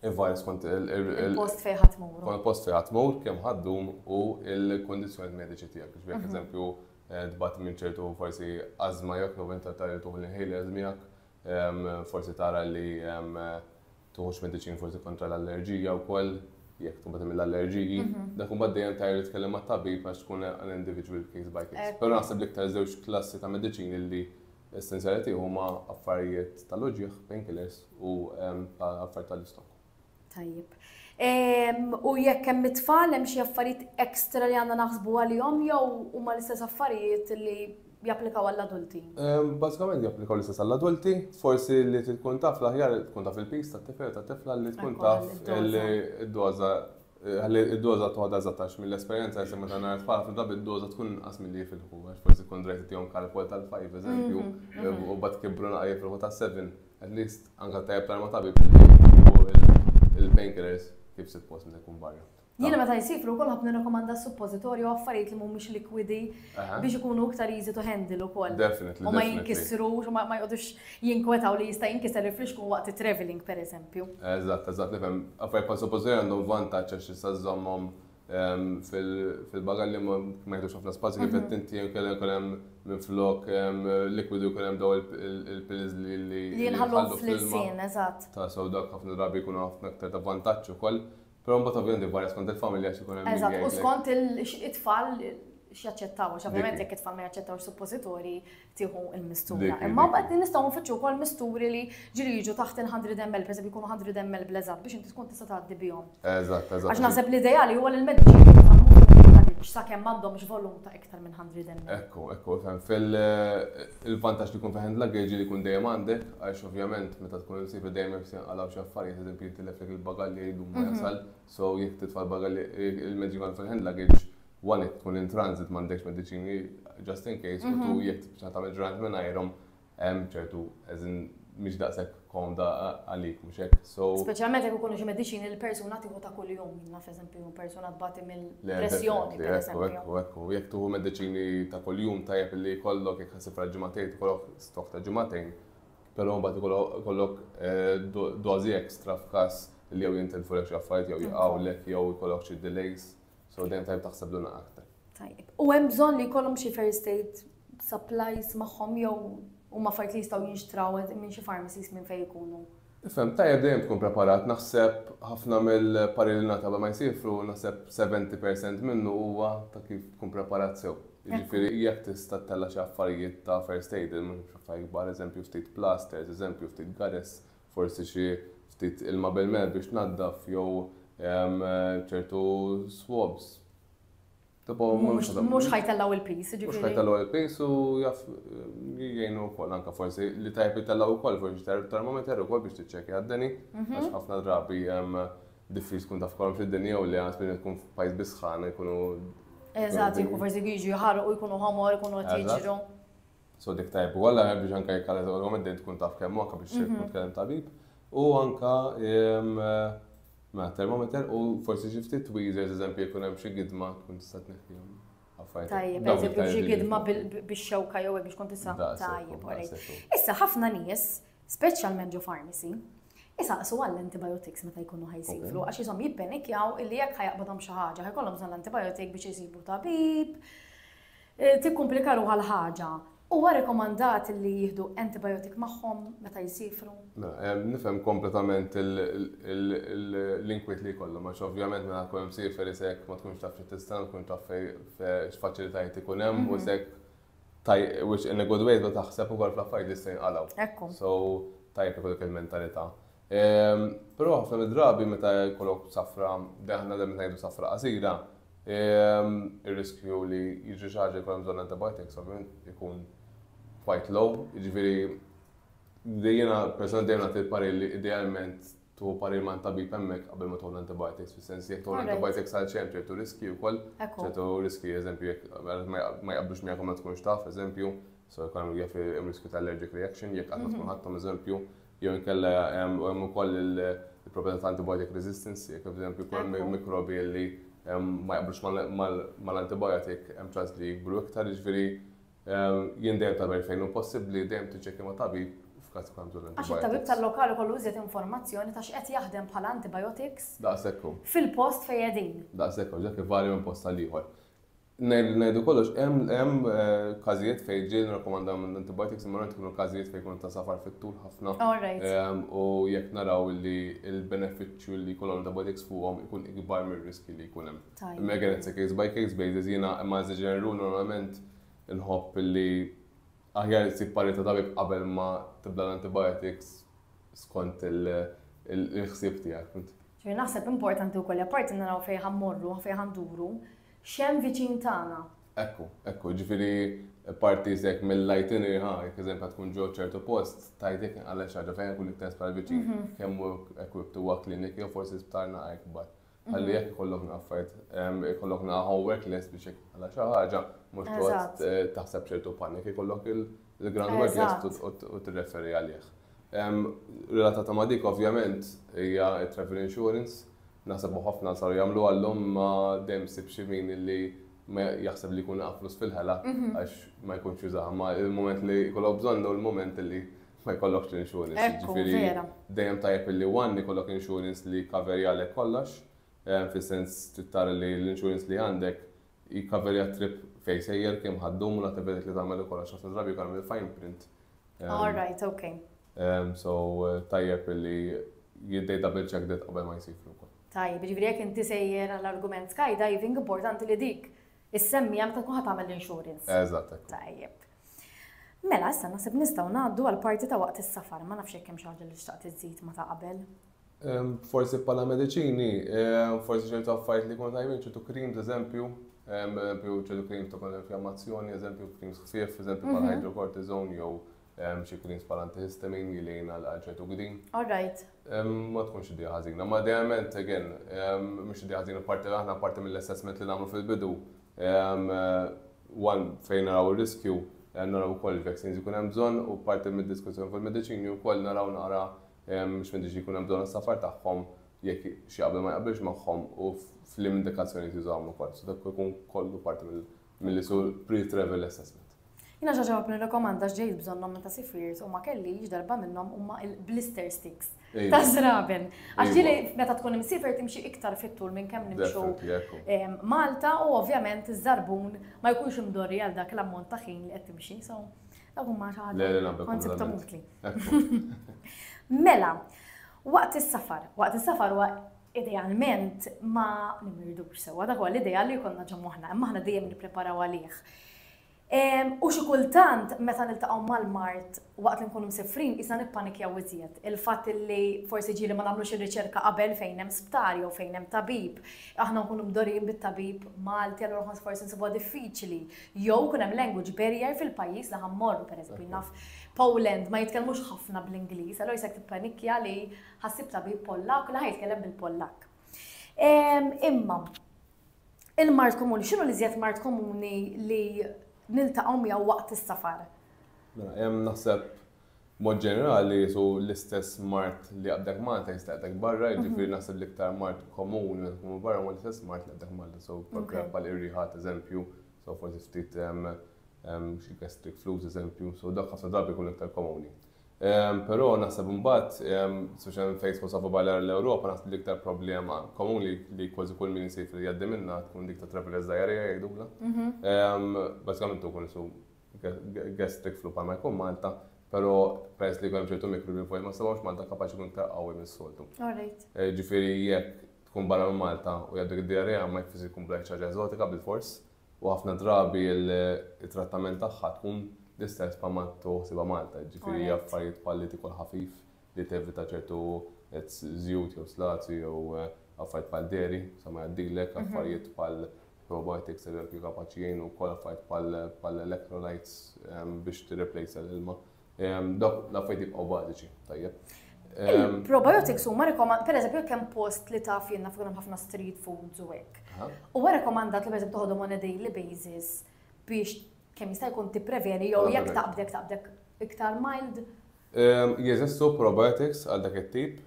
il-virus kont il-post fejn ħatmur. Kont il-post fejn ħatmur kemm ħaddum u l-kondizzjoni mediċi tiegħek. Biex mhm. eżempju eh, tbat minn ċertu forsi azma jekk noventa tal-tuħ l-inhalers miegħek, forsi tara li tuħux mediċin forsi kontra l-allerġija wkoll jekk tkun batem l-allerġiji, mhm. dak un dejjem tajr tkellem ma' tabib għax tkun an individual case by case. Eh. Però naħseb l-iktar żewġ klassi ta' mediċini li essenzjali tiegħu huma affarijiet tal-uġieħ, painkillers u ehm, affarijiet tal-istok. Tajjeb. Ehm, u jekk hemm it-tfal hemm xi affarijiet ekstra li għandna naħsbu għalihom jew huma l-istess affarijiet li japplikaw għall-adulti? Bażikament japplikaw l-istess għall-adulti, forsi li tkun taf l-aħjar tkun taf il-pis tat-tifel u tat-tifla li tkun taf il-doża ħalli id-doża toħda eżattax mill-esperjenza jisem meta nara tfal ħafna drabi d-doża tkun inqas milli jifilħu għax forsi tkun drajt tihom kalkol tal-5 eżempju u bad kibru naqa' jifilħu tas-7 at least anke tajjeb tal-ma tabib il-painkillers kif sitt post meta jkun barra. Jiena meta jsifru wkoll ħobb nirrakkomanda suppożitorji u affarijiet li mhumiex likwidi biex ikunu iktar easy to handle ukoll. Definitely. U ma jinkisrux, u ma jqogħdux jinkwetaw li jista' jinkiser il-flixku waqt it-traveling pereżempju. Eżatt, eżatt, nifhem. Affarijiet bħal suppożitorji għandhom vantaġġ għax tista' żżommhom ehm, fil-bagalli ma jħedux ħafna spazju kif mhm. qed inti kellek hemm minn flok ehm, likwidi jkun hemm daw il-pills li li jinħallu fl-ilsien, eżatt. Ta' sew dak ħafna drabi jkunu ħafna aktar ta' vantaġġ ukoll. Però mbagħad ovvjament varja skont il-familja x'ikun hemm. Eżatt, u skont it-tfal x'jaċċettaw, għax ovvjament jekk it-tfal ma jaċċettawx suppożitori tieħu l-mistura. Imma mbagħad nistgħu nfittxu wkoll misturi li ġiri jiġu taħt il-100 ml, pereżempju jkunu 100 ml bleżat biex inti tkun tista' tgħaddi bihom. Eżatt, eżatt. Għax naħseb l-ideali huwa l-mediċin sakemm m'għandhomx volum ta' iktar minn 100 ml. Ekku, ekku, fem. Fil-vantaġġ li jkun fi hand luggage li jkun dejjem għandek, għax ovvjament meta tkun imsiefer dejjem hemm se jinqalgħu xi affarijiet, eżempju jitileflek il-bagalli jgħidu ma jasal, so jekk titfa' l-bagalli il-mezzi kollha fil-hand luggage, one jekk tkun in transit m'għandekx mediċini just in case, u two jekk tibqa' tagħmel ġranet mingħajrhom, hemm ċertu as in mhix daqshekk komda għalik, mhux hekk? So Speċjalment jekk ikunu xi mediċini li persuna tieħu ta' kuljum, naf eżempju persuna tbati mill-pressjoni. Ekku, ekku, jekk tuħu mediċini ta' kuljum tajjeb li jkollok jekk ħasib għal ġimagħtejn tkollok stok ta' ġimagħtejn, però mbagħad ikollok eh, dożi ekstra f'każ li jew jintilfu lek xi affarijiet jew jaqgħu lek jew ikollok xi delays. So dejjem tajb taħseb l aktar. Tajjeb. U hemm bżonn li jkollhom xi first aid supplies magħhom jew huma fajt li jistgħu jinxtraw minn xi pharmacies minn fejn ikunu. Fem, tajjeb dejjem tkun preparat, naħseb ħafna mill-parri li nata ma jsifru, naħseb 70% minnu huwa ta' kif tkun preparat sew. Ġifiri, jek tista' tella xi affarijiet ta' first aid, mhux affarijiet kbar, eżempju ftit plasters, eżempju ftit gares, forsi xi ftit ilma bil-mel biex tnaddaf jew ċertu swabs. Mhux ħajtellgħu l-piż, ġifieri. Mhux ħajtellgħu l-piż u jaf jgħinu wkoll anke forsi li tajjeb itellgħu wkoll forsi termometer ukoll biex tiċċekkja d-deni mhm. għax ħafna drabi diffiċ tkun taf kolom fid-dinja u li għas minn tkun f'pajjiż bisħana jkunu. Eżatt, jkun forsi jiġu jħarqu jkunu ħomor, jkunu qed jiġru. So dik tajb u għalla biex anka jekk għalla għallu għamedden tkun taf kemm anka biex mhm. tkun tkellem tabib. U anka ma termometer u forsi xi ftit tweezers eżempju jkun hemm xi gidma tkun tista' tneħħihom. Tajjeb, eżempju xi gidma bix-xewka jew biex kont tista' tajjeb. Issa ħafna nies, speċjalment ġo pharmacy, Isaqsu għall-antibiotics meta jkunu ħajsifru, għax jisom jibbenikjaw illi jekk ħajaqbadhom xi ħaġa, ħajkollhom bżonn l-antibiotik biex jisibu tabib, Tikkumplika ruħha l-ħaġa. Huwa rekomandat li jieħdu antibiotic magħhom meta jsiefru? Nifhem kompletament l-inkwiet li jkollhom għax ovvjament meta tkun imsiefer isek ma tkunx taf xi tistenna, ma tkunx taf x'faċilitajiet ikun hemm u isek which in a good way tibda taħseb ukoll fl-affarijiet li jista' jinqalgħu. So tajjeb li jkollok il-mentalità. Però ħafna mid-drabi meta jkollok safra, aħna dejjem ngħidu safra qasira, Ir-riskju li jiġri xi ħaġa jkun hemm bżonn antibiotics ovvjament ikun quite low, jiġifieri jiena personalment dejjem nagħti l-parir li idealment tuħu parir ma' tabib hemmhekk qabel ma tuħu l-antibiotics, fis-sens jekk tuħu l-antibiotics għal xejn ċertu riskji wkoll, ċertu riskji eżempju jekk ma jaqblux miegħek u ma tkunx taf eżempju, so jkun hemm riskju ta' allergic reaction jekk qatt ma tkun ħadthom eżempju, Jew inkella hemm ukoll il-proprjetà ta' antibiotic resistance, jekk eżempju jkun hemm mikrobi li ma jaqblux mal-antibiotic, hemm ċans li jikbru iktar, jiġifieri jien dejjem tagħmel fejn hu possibbli dejjem tiċċekkja ma' tabib f'każ ikun hemm bżonn antibiotics. Għax it-tabib tal-lokal ikollu iżjed informazzjoni ta' x'qed jaħdem bħala antibiotics fil-post fejn qegħdin. Daqshekk hu, dak ivarja minn post għal ieħor. Ngħidu kollox, hemm każijiet fejn ġieli nirrakkomanda l-antibiotics imma rajt ikunu każijiet fejn ikunu ta' safar fit-tul ħafna. U jekk naraw li l-benefiċċju li jkollhom l-antibiotics fuqhom ikun ikbar mir-riskji li jkun hemm. Imma again it's a case by case basis jiena imma as a general rule normalment inħobb li aħjar issib parir ta' tabib qabel ma tibda l-antibiotics skont il-ħsieb tiegħek. Naħseb importanti wkoll li apparti naraw fejn ħa mmorru, fejn ħa nduru, X'hemm viċin tagħna. Hekk hu, hekk hu. Jiġifieri parti jekk mill-itinerary, ha, jekk eżempju tkun ġo ċertu post, tgħid jekk inqala' xi ħaġa fejn jkun l-iktar sptar viċin, kemm hu equipped huwa clinic jew forsi sptar naqra ikbar. Ħalli jekk ikollok naqra affarijiet, ikollok naqra homework lest biex jekk inqala' xi ħaġa, mhux toqgħod taħseb ċertu panic, ikollok il-groundwork lest u tirreferi għalih. Relatata ma' dik ovvjament hija t-travel insurance. Naħseb li ħafna saru jagħmluha llum imma dejjem ssib xi min li jaħseb li jkun laqa' flus fil-ħela għax ma jkunx jużaha. Imma l-mument li jkollok bżonn hu l-mument li ma jkollokx l-insurance. Jiġifieri dejjem tajjeb li one ikollok insurance li jkkaverjalek kollox, fis-sens trid tara li l-insurance li għandek Jikkaverja t-trip fejn sejjer, kemm ħa ddum u l-attivitajiet li tagħmel ukoll għax ħafna drabi jkun hemm il-fine print. All right, okay. So tajjeb li jid-database check that qabel ma jsir ukoll. Tajjeb, jiġifieri jekk inti sejjer għall-argument skydiving importanti li dik is-semmija meta tkun ħa tagħmel l-insurance. Eżatt. Tajjeb. Mela, issa naħseb nistgħu ngħaddu għall-parti ta' waqt is-safar, ma nafx jekk hemm xi ħaġa li xtaqt iżżid ma ta' qabel. Forsi bħala mediċini, forsi ċertu affarijiet li kont għajmin, ċertu creams, eżempju, eżempju, ċertu creams ta' kont inflammazzjoni, eżempju, creams ħfief, eżempju, bħal mhm. hydrocortisone, jew xi creams bħal antihistamin li lejn għal ċertu gdin. All right. Ma tkunx idea ħażina, ma dejjament, again, mhux idea ħażina parti l aħna parti mill-assessment li nagħmlu fil-bidu. One fejn naraw ir-riskju, naraw ukoll il-vaccines ikun hemm bżonn u parti mid-diskussjoni fil-mediċini wkoll naraw nara Mhux meħtieġ li jkun hemm bżonn is-safar tagħhom jekk xi qabel ma jaqbilx magħhom u f'liema indikazzjonijiet jużawhom ukoll. So dak ikun kollu parti milli jsur pre-travel assessment. Jiena xi ġewab nirrekomanda x'ġejt bżonnhom meta sifrirt u ma kellix darba minnhom huma l-blister sticks taż-żraben. Għax ġieli meta tkun imsiefer timxi iktar fit-tul minn kemm nimxu Malta u ovvjament iż-żarbun ma jkunx imdorri għal dak l-ammont ta' ħin li qed timxi. So Dak huma xi ħaġa konseptom utli. Mela, waqt is-safar, waqt is-safar huwa idealment ma nimmirdux sewwa, dak huwa l-ideal li jkollna ġo moħħna, imma aħna dejjem nippreparaw għalih. U xi kultant meta niltaqgħu mal-mart waqt li nkunu msifrin isna nippanikjaw iżjed. Il-fatt li forsi ġieli ma nagħmlux ir-riċerka qabel fejn hemm sptar jew fejn hemm tabib, aħna nkunu mdorin bit-tabib Malti allura ħoss forsi nsibha diffiċli. Jew ikun hemm language barrier fil-pajjiż li ħa mmorru, pereżempju jien naf Poland ma jitkellmux ħafna bl-Ingliż, allura jisek tippanikkja li ħa ssib tabib Pollakk u li ħa jitkellem bil-Pollakk. Ehm, imma, il-mart komuni, x'inhu li żjed mart komuni li niltaqgħu miegħu waqt is-safar? Mela, hemm naħseb B'mod ġenerali qisu l-istess mard li jaqbdek Malta jista' jaqbdek barra, jiġifieri naħseb l-iktar mard komuni meta tkun barra huwa l-istess mard li jaqbdek Malta. So bħal bħal ir-riħa ad eżempju, so forsi ftit xi gastric flu ad eżempju, so dak ħafna drabi jkun l-iktar komuni. Però naħseb imbagħad, speċjalment fejn tkun safa barra l-Ewropa naħseb l-iktar problema komuni li kważi kull min isir li jgħaddi minnha tkun dik tat-travelers diarrhea jgħidulha. Bażikament tkun isu gastric flu bħalma jkun Malta, pero peress li għem ċertu mikru li fuq ma sabawx Malta kapaċi kun iktar qawwi minn soltu. Eh, ġifiri jekk tkun barra minn Malta u jaddu id-diarrea ma jfisir kun blajt ċaġa eżotika bil-fors u ħafna drabi il-trattament tagħha tkun l-istess pa' ma tuħsiba Malta, ġifiri jaffariet palli tikol ħafif li tevita ċertu zjut jew slazzi jew eh, affarijiet pal deri, sa ma jaddilek, mhm. affarijiet pal probiotics li jkunu kapaċi jgħinu wkoll affarijiet bħal electrolytes ehm, biex tirreplejsa l-ilma. Ehm, dawk l-affarijiet jibqgħu bażiċi, tajjeb. Ehm, probiotics huma rekomand, per eżempju, kemm post li taf jenna fuq ħafna street foods u hekk. Huwa rekomandat li per eżempju toħodhom on a daily basis biex kemm jista' jkun tippreveni jew jekk taqbdek taqbdek iktar mild. Jeżistu probiotics għal dak it-tip.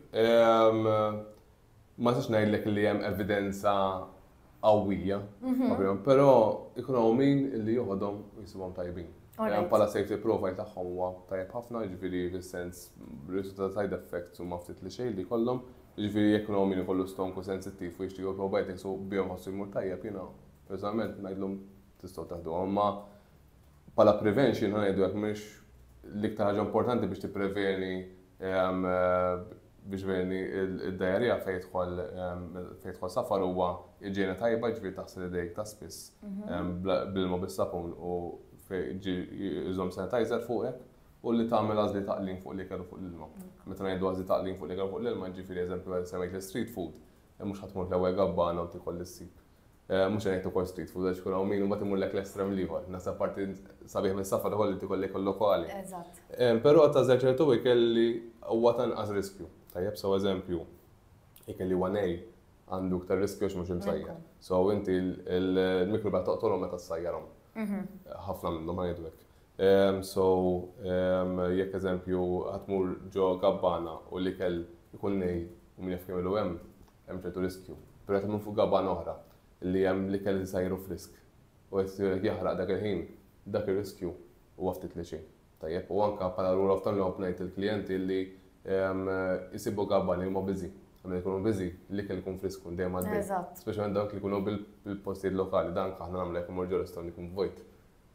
ma nistax ngħidlek li hemm evidenza qawwija, mhm. però ikun hawn min li joħodhom jisibhom tajbin. Hemm bħala safety profile tagħhom huwa tajjeb ħafna, jiġifieri fis-sens riżultat side effects huma ftit li xejn li kollhom, jiġifieri jekk hawn min ikollu stonku sensittiv u jixtiequ probiotics u bihom ħossu jmur tajjeb jiena personalment ngħidlhom tistgħu taħdu. Imma Bħala prevention ngħidu hekk mhux l-iktar ħaġa importanti biex tippreveni ehm, biex veni id-dajarija fejn jidħol ehm, fejn jidħol safar huwa iġena tajba ġifieri taħsel idejk ta' spiss mhm. ehm, bil-ma bis-sapun u iżom sanitizer fuqek u li tagħmel għażli taqlin fuq li kellu fuq l-ilma. Meta ngħidu għażli taqlin fuq li kellu fuq l-ilma, ġifieri eżempju għal semmejt l-street food, eh, mhux ħatmur l-ewwel gabbana u tikol l-sib. Mhux se ngħid ukoll street food għax ikun hawn min imbagħad imurlek l-estrem l-ieħor. Naħseb parti sabiħ mis-safar ukoll li tikollek il-lokali. Eżatt. Però tażel ċertu ikel li huwa ta' inqas riskju. Tajjeb, so eżempju, ikel li huwa nej għandu iktar riskju għax mhux imsajjar. So inti l-mikrobja toqtolhom meta ssajjarhom. Mhm. Ħafna minnhom ma ngħidu hekk. So jekk eżempju ħadd tmur ġo gabbana u l-ikel ikun nej u min jaf kemm ilu hemm, Hemm ċertu riskju. Però qed nagħmlu fuq gabana oħra li hemm l-ikel żgħir u frisk u qed isir qed jaħraq dak il-ħin, dak ir-riskju huwa ftit li xejn. Tajjeb? U anke bħala rule of thumb nħobb ngħid lill-klijenti li jsibu gabani li huma busy. Għax meta jkunu busy, l-ikel ikun frisk, ikun dejjem għaddej. Speċjalment dawk li jkunu bil-postijiet lokali, dan anke aħna nagħmlu jekk immorru ġo restaurant ikun vojt.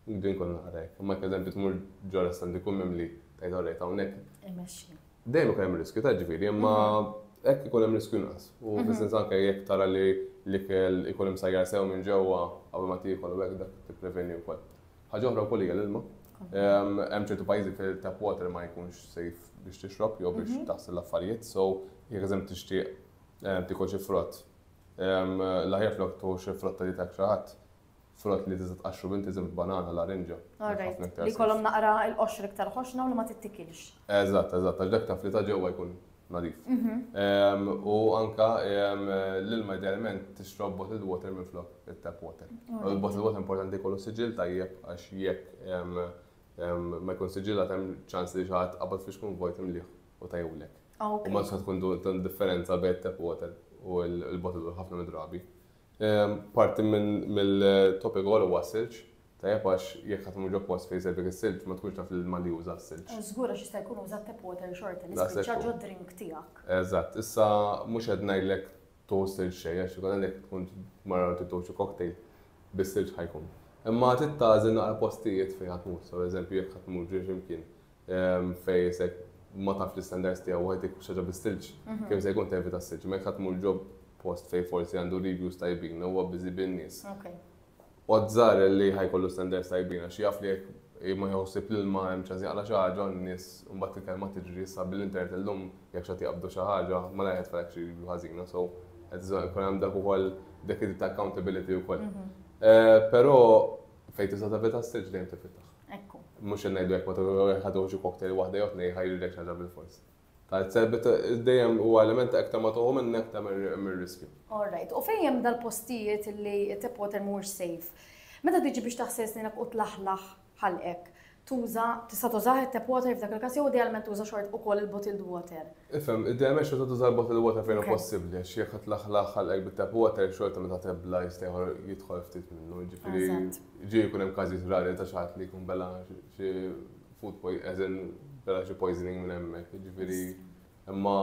Nibdi nkun naqra hekk. Imma eżempju tmur ġo restaurant ikun mimli tgħid orrejt hawnhekk. Imexxi. Dejjem ikun hemm riskju ta' ġifieri, imma hekk ikun hemm riskju nqas. U fis-sens anke jekk tara li l-ikel ikun imsajjar sew minn ġewwa qabel ma tiekol u hekk dak tippreveni wkoll. Ħaġa oħra wkoll hija l-ilma. Hemm ċertu pajjiżi fejn tap water ma jkunx safe biex tixrob jew biex taħsel l-affarijiet, so jekk eżempju tixtieq tiekol xi frott, l-aħjar flok tieħu xi frotta li tak xi ħadd, Frott li tista' tqaxxru minn tiżem f'banana, larinġa. All right. Li jkollhom naqra l-qoxra iktar ħoxna u li ma tittikilx. Eżatt, eżatt, għax dak taf li ta' ġewwa jkun nadif. U anke l-ilma idealment tixrob bottled water minflok it-tap water. Il-bottled water importanti jkollu siġill tajjeb għax jekk ma jkunx siġillat hemm ċans li xi ħadd qabad fix kun vojt imlieħ u tajjewlek. U ma tistax tkun differenza bejn it-tap water u l-bottled water ħafna mid-drabi. Parti mill-topic ukoll huwa s-silġ, tajjeb għax jekk ħadd imur ġo post fejn jsejbek is-silġ ma tkunx taf li l-Malli juża s-silġ. Żgur għax jista' jkun uża t-tap water xorta li spiċċa ġod-drink tiegħek. Eżatt, issa mhux qed ngħidlek tuħu s-silġ xejn għax ikun għalhekk tkun mara li trid tuħu xi cocktail bis-silġ ħa jkun. Imma trid tagħżel naqra postijiet fejn ħa tmur, saw eżempju jekk ħa tmur ġo xi mkien Fejn isek ma taf l-istandards tiegħu wieħed jekk xi ħaġa bis-silġ, kemm se jkun tevita s-silġ. Ma jekk tmur ġo post fejn forsi għandu reviews tajbin u huwa biżi bin-nies. Odd żgħar li ħajkollu standards tajbin għax jaf li jekk ma jħossib l-ilma hemm ċans jaqla' xi ħaġa u n-nies mbagħad il-kelma tiġri issa bil-internet illum jekk xi ħadd jaqbdu xi ħaġa malajr qed tfalek xi review ħażina so qed bżonn ikun hemm dak ukoll dik id ta' accountability wkoll. Però fejn tista' tevita s-silġ dejjem tifitaħ. Ekku. Mhux qed ngħidu jekk ma jekk ma toħġu cocktail waħda jew tnejn ħajrilek xi ħaġa bil-fors. Tal-serbit dejjem huwa element ta' iktar ma toħu minn iktar mir-riskju. All right. U fejn hemm dal-postijiet li tap water mhuwiex safe? Meta tiġi biex taħsel sninek u tlaħlaħ ħalqek, tuża, tista' tużah it-tap water f'dak il-każ jew idealment tuża xort ukoll il-bottled water. Ifhem, idealment xorta tuża l-bottled water fejn hu possibbli għax jekk tlaħlaħ ħalqek bit-tap water xorta meta tebla jista' jidħol ftit minnu, jiġifieri. Ġie jkun hemm każijiet rari ta' xi ħadd li jkun bela xi food poison, as in bela xi poisoning minn hemmhekk, jiġifieri imma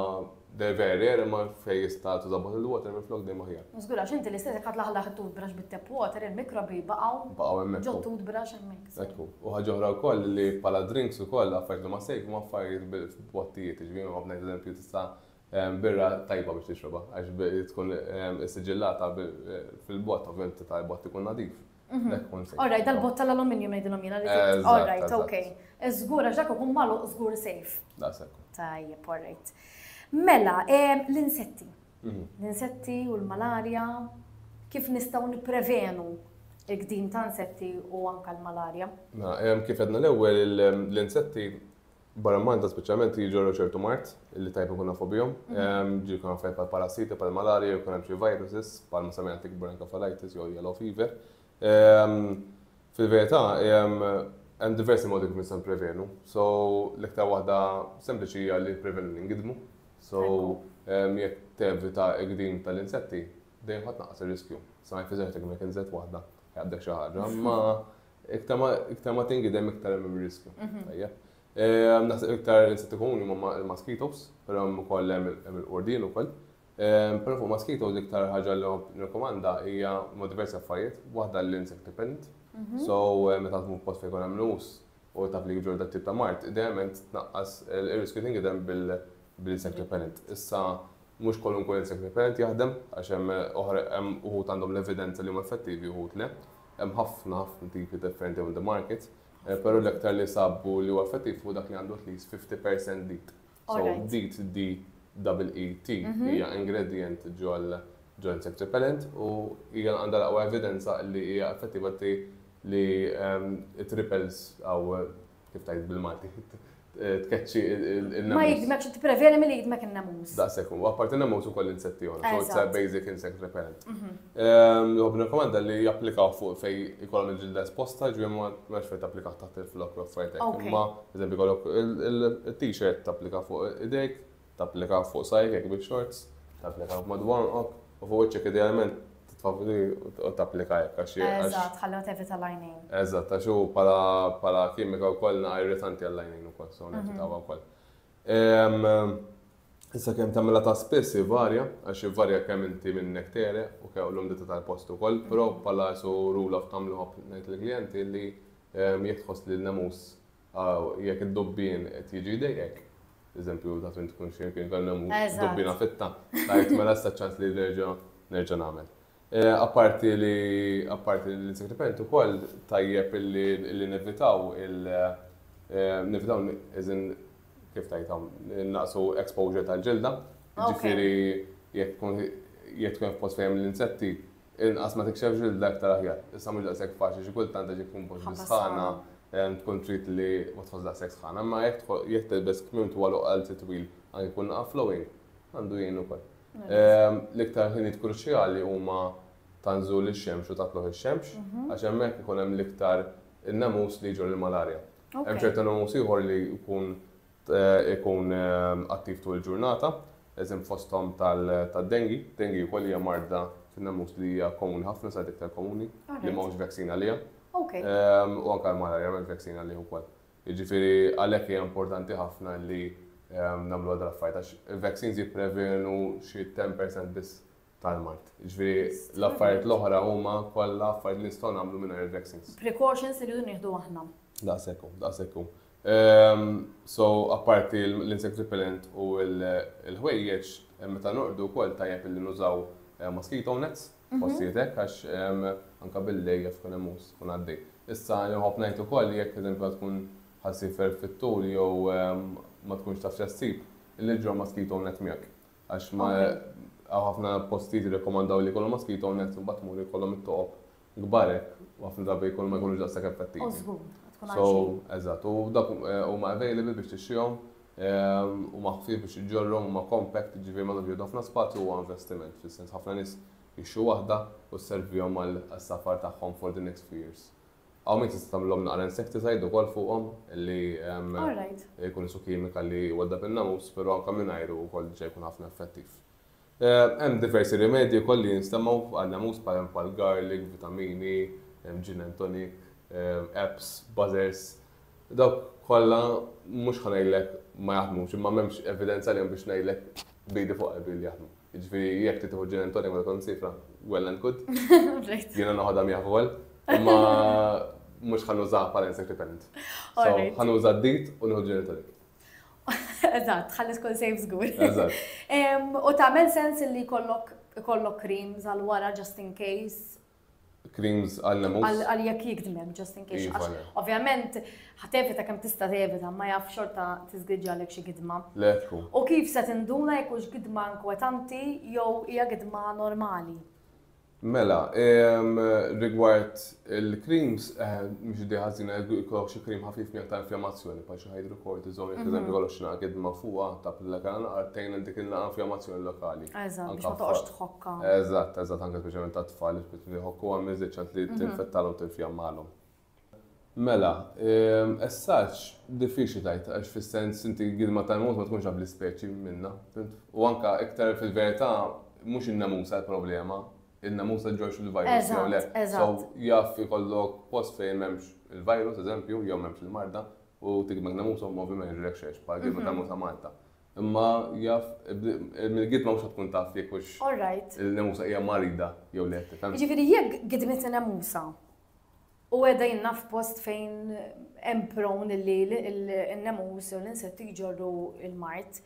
they're very rare imma fejn jista' tuża bottled water minn flok dejjem aħjar. Żgur għax inti l-istess jekk ħatlaħlaħ it-toothbrush bit-tap water, il-mikrobi baqgħu Baqgħu hemmhekk. ġo toothbrush hemmhekk. Hekk hu. U ħaġa oħra wkoll li bħala drinks ukoll affarijiet li huma safe huma affarijiet b'-bottijiet, jiġifieri nkompli ngħid eżempju tista' Birra tajba biex tixrobha, għax tkun issiġillata fil-bott, ovvjament titgħa l-bott ikun nadif. Orrajt, dal-bott tal-aluminium ngħidilhom jiena li tgħid. Orrajt, ok. Żgur għax dak ikun magħluq żgur sejf. Daqshekk. Tajjeb, orrajt. Mela, l-insetti. Mhm. L-insetti u l-malarja, kif nistgħu nipprevenu il-qdim ta' insetti u anka l-malarja? Mela, kif edna l-ewwel l-insetti Barra Malta speċjalment jiġorru ċertu mart li tajb ikun nafu bihom. Mhm. Ehm, ġi jkun affarijiet bħal parasiti, bħal malarja, jew jkun hemm xi viruses, bħal ma semmejna tik bronchophylitis jew yellow fever. Ehm, fil-verità, ehm, hemm diversi modi kif nistgħu prevenu. So, l-iktar waħda sempliċi hija li prevenu li ngidmu. So, jekk tevita gdin tal-insetti, dejjem ħadd naqas ir-riskju. Sa ma jfiżex tek mek inżet waħda, jgħaddek xi ħaġa, ma Iktar ma tingidem, iktar hemm ir-riskju. Tajjeb. Naħseb iktar insetti komuni huma il-mosquitoes, però hemm ukoll hemm il-qurdien ukoll. Però fuq mosquitoes l-iktar ħaġa li nirkomanda hija ma' diversi affarijiet, waħda l-insect repellent. So meta tkun f'post fejn ikun hemm l-uħus u taf li jġorr dat tip ta' mard, idealment tnaqqas ir-riskju tingidem bl-insect repellent. Issa mhux kwalunkwe insect repellent jaħdem għax hemm uħud għandhom l-evidenza li huma effettivi uħud le. Hemm ħafna tipi differenti on the market, però l-iktar li sabu li huwa effettiv hu dak li għandu at least 50 percent DEET. So DEET, D-E-E-T, hija ingredient ġol-insect repellent u hija għandha l-aqwa evidenza li hija effettiva li t-repels kif tajt bil-Malti, tkeċċi il-namus. Ma jidmek, xi tipprevjeni milli jidmek il-namus. Da sekun, apparti namus u koll insetti għon, so it's a basic insect repellent. Mhm. Ehm, Job rekomanda li japplikaw fuq fej ikollhom il-ġilda esposta, ġvien ma mex fej tapplikaw taħt il-flok l-offrajtek. Ma, eżempi kollok il-t-shirt tapplika fuq idejk, Tapplika fuq sajf jekk bik xorts, tapplika b'mod b'għonqok u fuq wiċċek idealment titfavri u tapplika hekk għax. Eżatt, ħalli ma tevita l-għajnejn. Eżatt, għax hu bħala kimika wkoll naqa' irritanti għall-għajnejn ukoll, so nevitawha wkoll. Issa kemm tagħmilha ta' spiss ivarja, għax ivarja kemm inti minnek tegħreq u kemm l-umdità tal-post ukoll, però bħala su rule of thumb li nħobb ngħid lill-klijenti li jekk tħoss li n-nemus Aw, jekk id-dubbien qed jiġi jdejqek, eżempju, taf int tkun xejn kien kellem u dubbiena fitta, tgħid mela issa ċ-ċans li nerġa' nerġa' nagħmel. Apparti li apparti li l-insectipent ukoll tajjeb li nevitaw il nevitaw as in kif tgħidha innaqsu exposure tal-ġilda, jiġifieri jekk tkun jekk tkun f'post fejn hemm l-insetti, Inqas ma tikxef ġilda iktar aħjar. Issa mhux daqshekk faċli xi kultant għax jekk tkun poġġi sħana tkun trid li ma tħoss daqshekk sħana, imma jekk jekk tilbes kmiem twal u qalzi twil anke jkun naqaf flowing għandu jgħin ukoll. L-iktar ħinijiet kruċjali huma ta' nżul ix-xemx u ta' tlugħ ix-xemx għax hemmhekk ikun hemm l-iktar in-nemus li jġorr il-malarja. Hemm ċertu nemus ieħor li jkun ikun attiv tul il-ġurnata, eżem fosthom tad-dengue. Dengue wkoll hija marda fin-namus li hija komuni ħafna, sa iktar komuni, li m'hawnx vaccine għaliha. U anke l-malarja m'hemmx vaccine għalih ukoll. Jiġifieri għalhekk hija importanti ħafna li nagħmluha dal-affarijiet għax il-vaccines jipprevenu xi 10% biss tal-mard. Ġifieri l-affarijiet l-oħra huma kollha affarijiet li nistgħu nagħmlu mingħajr il-vaccines. Precautions li rridu nieħdu aħna. Daqshekk hu, daqshekk hu. Ehm, so, apparti l-insect repellent u l-ħwejjeġ, eh, meta norqdu wkoll tajjeb li nużaw eh, mosquito nets, mhm. postijiet hekk għax ehm, anke bil-lej jaf tkun hemm tkun għaddej. Issa nħobb ngħid ukoll jekk eżempju tkun ħassifer fit-tul jew ehm, ma tkunx taf x'assib, il-ġra mosquito net miegħek. Għax ma għaw ħafna postijiet rekomandaw li kolom maski jitgħu net, bat mur jkollhom it-toqob gbarek, u ħafna drabi jkun ma jkunux daqsak effettivi. Użgur, tkun għal. So, eżat, u dak eh, u ma available biex tixxihom, eh, u ma ħfif biex iġġorrom, u ma compact, ġivir ma nafx ħafna spazju u investiment, fil-sens ħafna nis jixxu wahda u s-servijom għal-safar taħħom for the next few years. Hawn min tista' tagħmilhom naqra insecticide ukoll fuqhom li jkun isu kimika li jwaddab in-namus, però anke mingħajru wkoll diġà jkun ħafna effettiv. Hemm diversi rimedji wkoll li jinstemgħu għan-namus bħal garlic, vitamini, gin and tonic, apps, buzzers. Dawk kollha mhux ħa ngħidlek ma jaħdmux, imma m'hemmx evidenza għalihom biex ngħidlek b'idi fuq qalbi li jaħdmu. Ġifieri jekk trid tieħu ġin tonic ma tkun sifra, well and good. Jiena noħodha miegħ fuel, imma mhux ħan użaha bħala insect repellent. So ħan uża d-dit u nieħu ġin tonic. Eżatt, ħalli tkun safe żgur. Eżatt. U tagħmel sens li kollok kollok creams għal wara just in case Creams għal lemus? Għal jekk jikdmem, just in case. Iva, le. Ovvjament, ħatevita kemm tista' tevita, ma jaf xorta tiżgriġġalek xi gidma. Le, tkun. U kif se tinduna jekk hux gidma inkwetanti jew hija gidma normali? Mela, em, rigward il-creams, eh, mhux di ħażina jkollok xi cream ħafif miegħek ta' infjammazzjoni, bħal xi hydrocortisone, jekk eżempju jkollok xi naqa' gidma fuqha ta' pilla kana naqra tgħin għal dik il-naqa' infjammazzjoni lokali. Eżatt, biex ma Anka toqgħodx f'ħadd. tħobb. jħokkha. Eżatt, eżatt, anke speċjalment għat-tfal, jispiċċa jħokku għal minn żied ċans li tinfettalhom u tinfjammalhom. Mela, essaġġ diffiċli tajt, għax fis-sens inti gidma tal-mod ma tkunx għab l-ispeċi minna. U anka iktar fil-verità, mhux in-namusa l-problema, in-namusa ġorx il-virus jew le. So jaf ikollok post fejn m'hemmx il-virus, eżempju, jew m'hemmx il-marda, u tikmek namusa u movi ma jiġrilek xejn, bħal gidma tal-mod ta' Malta. Imma jaf, mill-gidma mhux tkun taf jekk hux il-nemusa hija marida jew le. Jiġifieri jekk gidmit nemusa u qiegħda jinnha f'post fejn hemm prawn li n-nemus jew l-insetti jġorru l-mard,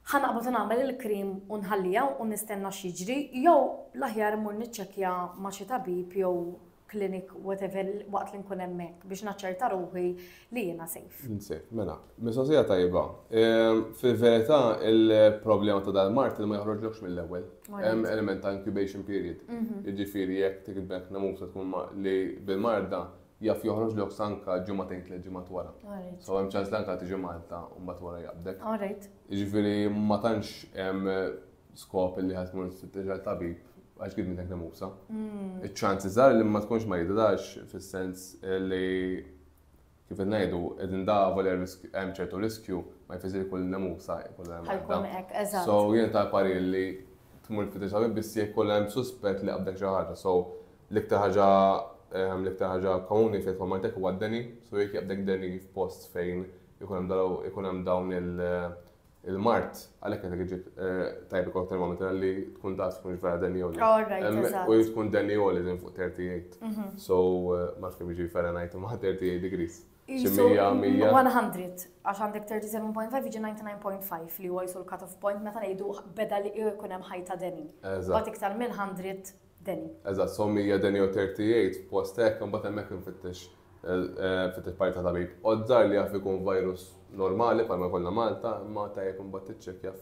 ħa naqbad nagħmel il-krim u nħalliha u nistenna x'jiġri jew l-aħjar immur niċċekkja ma' xi tabib jew clinic, whatever, waqt li nkun hemmhekk biex naċċerta ruħi li jiena safe. Safe, mela. Mistoqsija tajba. Ehm, fil-verità, il-problema ta' dal-mart li ma joħroġlokx mill-ewwel. Hemm element ta' incubation period. Mhm. Jiġifieri jekk tikbek namusa tkun li bil-marda jaf joħroġ l sanka ġumatejn tliet ġimgħat wara. So hemm ċans l-anka tiġi Malta u mbagħad wara jabdek. Jiġifieri ma tantx skop li ħad tmur tfittex għal tabib għax kif minnek nemusa. Mm. Iċ-ċansi żgħar li ma tkunx marida dax fis-sens li kif qed ngħidu qegħdin davu li hemm ċertu riskju ma jfisir kull nemusa jkollha hemm. So jien ta' pari li tmur tfittex tabib biss jekk kollha hemm suspett li qabdek xi ħaġa. So l-iktar ħaġa ehm, l-iktar ħaġa komuni fejn ma jtek huwa d-deni, so jekk jaqbdek deni f'post fejn ikun hemm dawn il- il-mard, għalhekk qed iġib eh, tajb ikol termometer li tkun taf tkunx vera denjoli. Oh, u tkun denjoli din fuq 38. Mhm. So eh, ma fim jiġi Fahrenheit ma 38 degrees. 100, għax għandek 37.5 jiġi 99.5 li huwa jisu l-cut-off point meta ngħidu beda li jkun hemm ħajta deni. Bat iktar minn 100 Deni. Eżatt, so mija deni u terti jgħid f'post hekk, imbagħad hemmhekk infittex infittex parti ta' tabib. Oddżar li jaf ikun virus normali bħalma jkollna Malta, imma tajjeb imbagħad tiċċekkja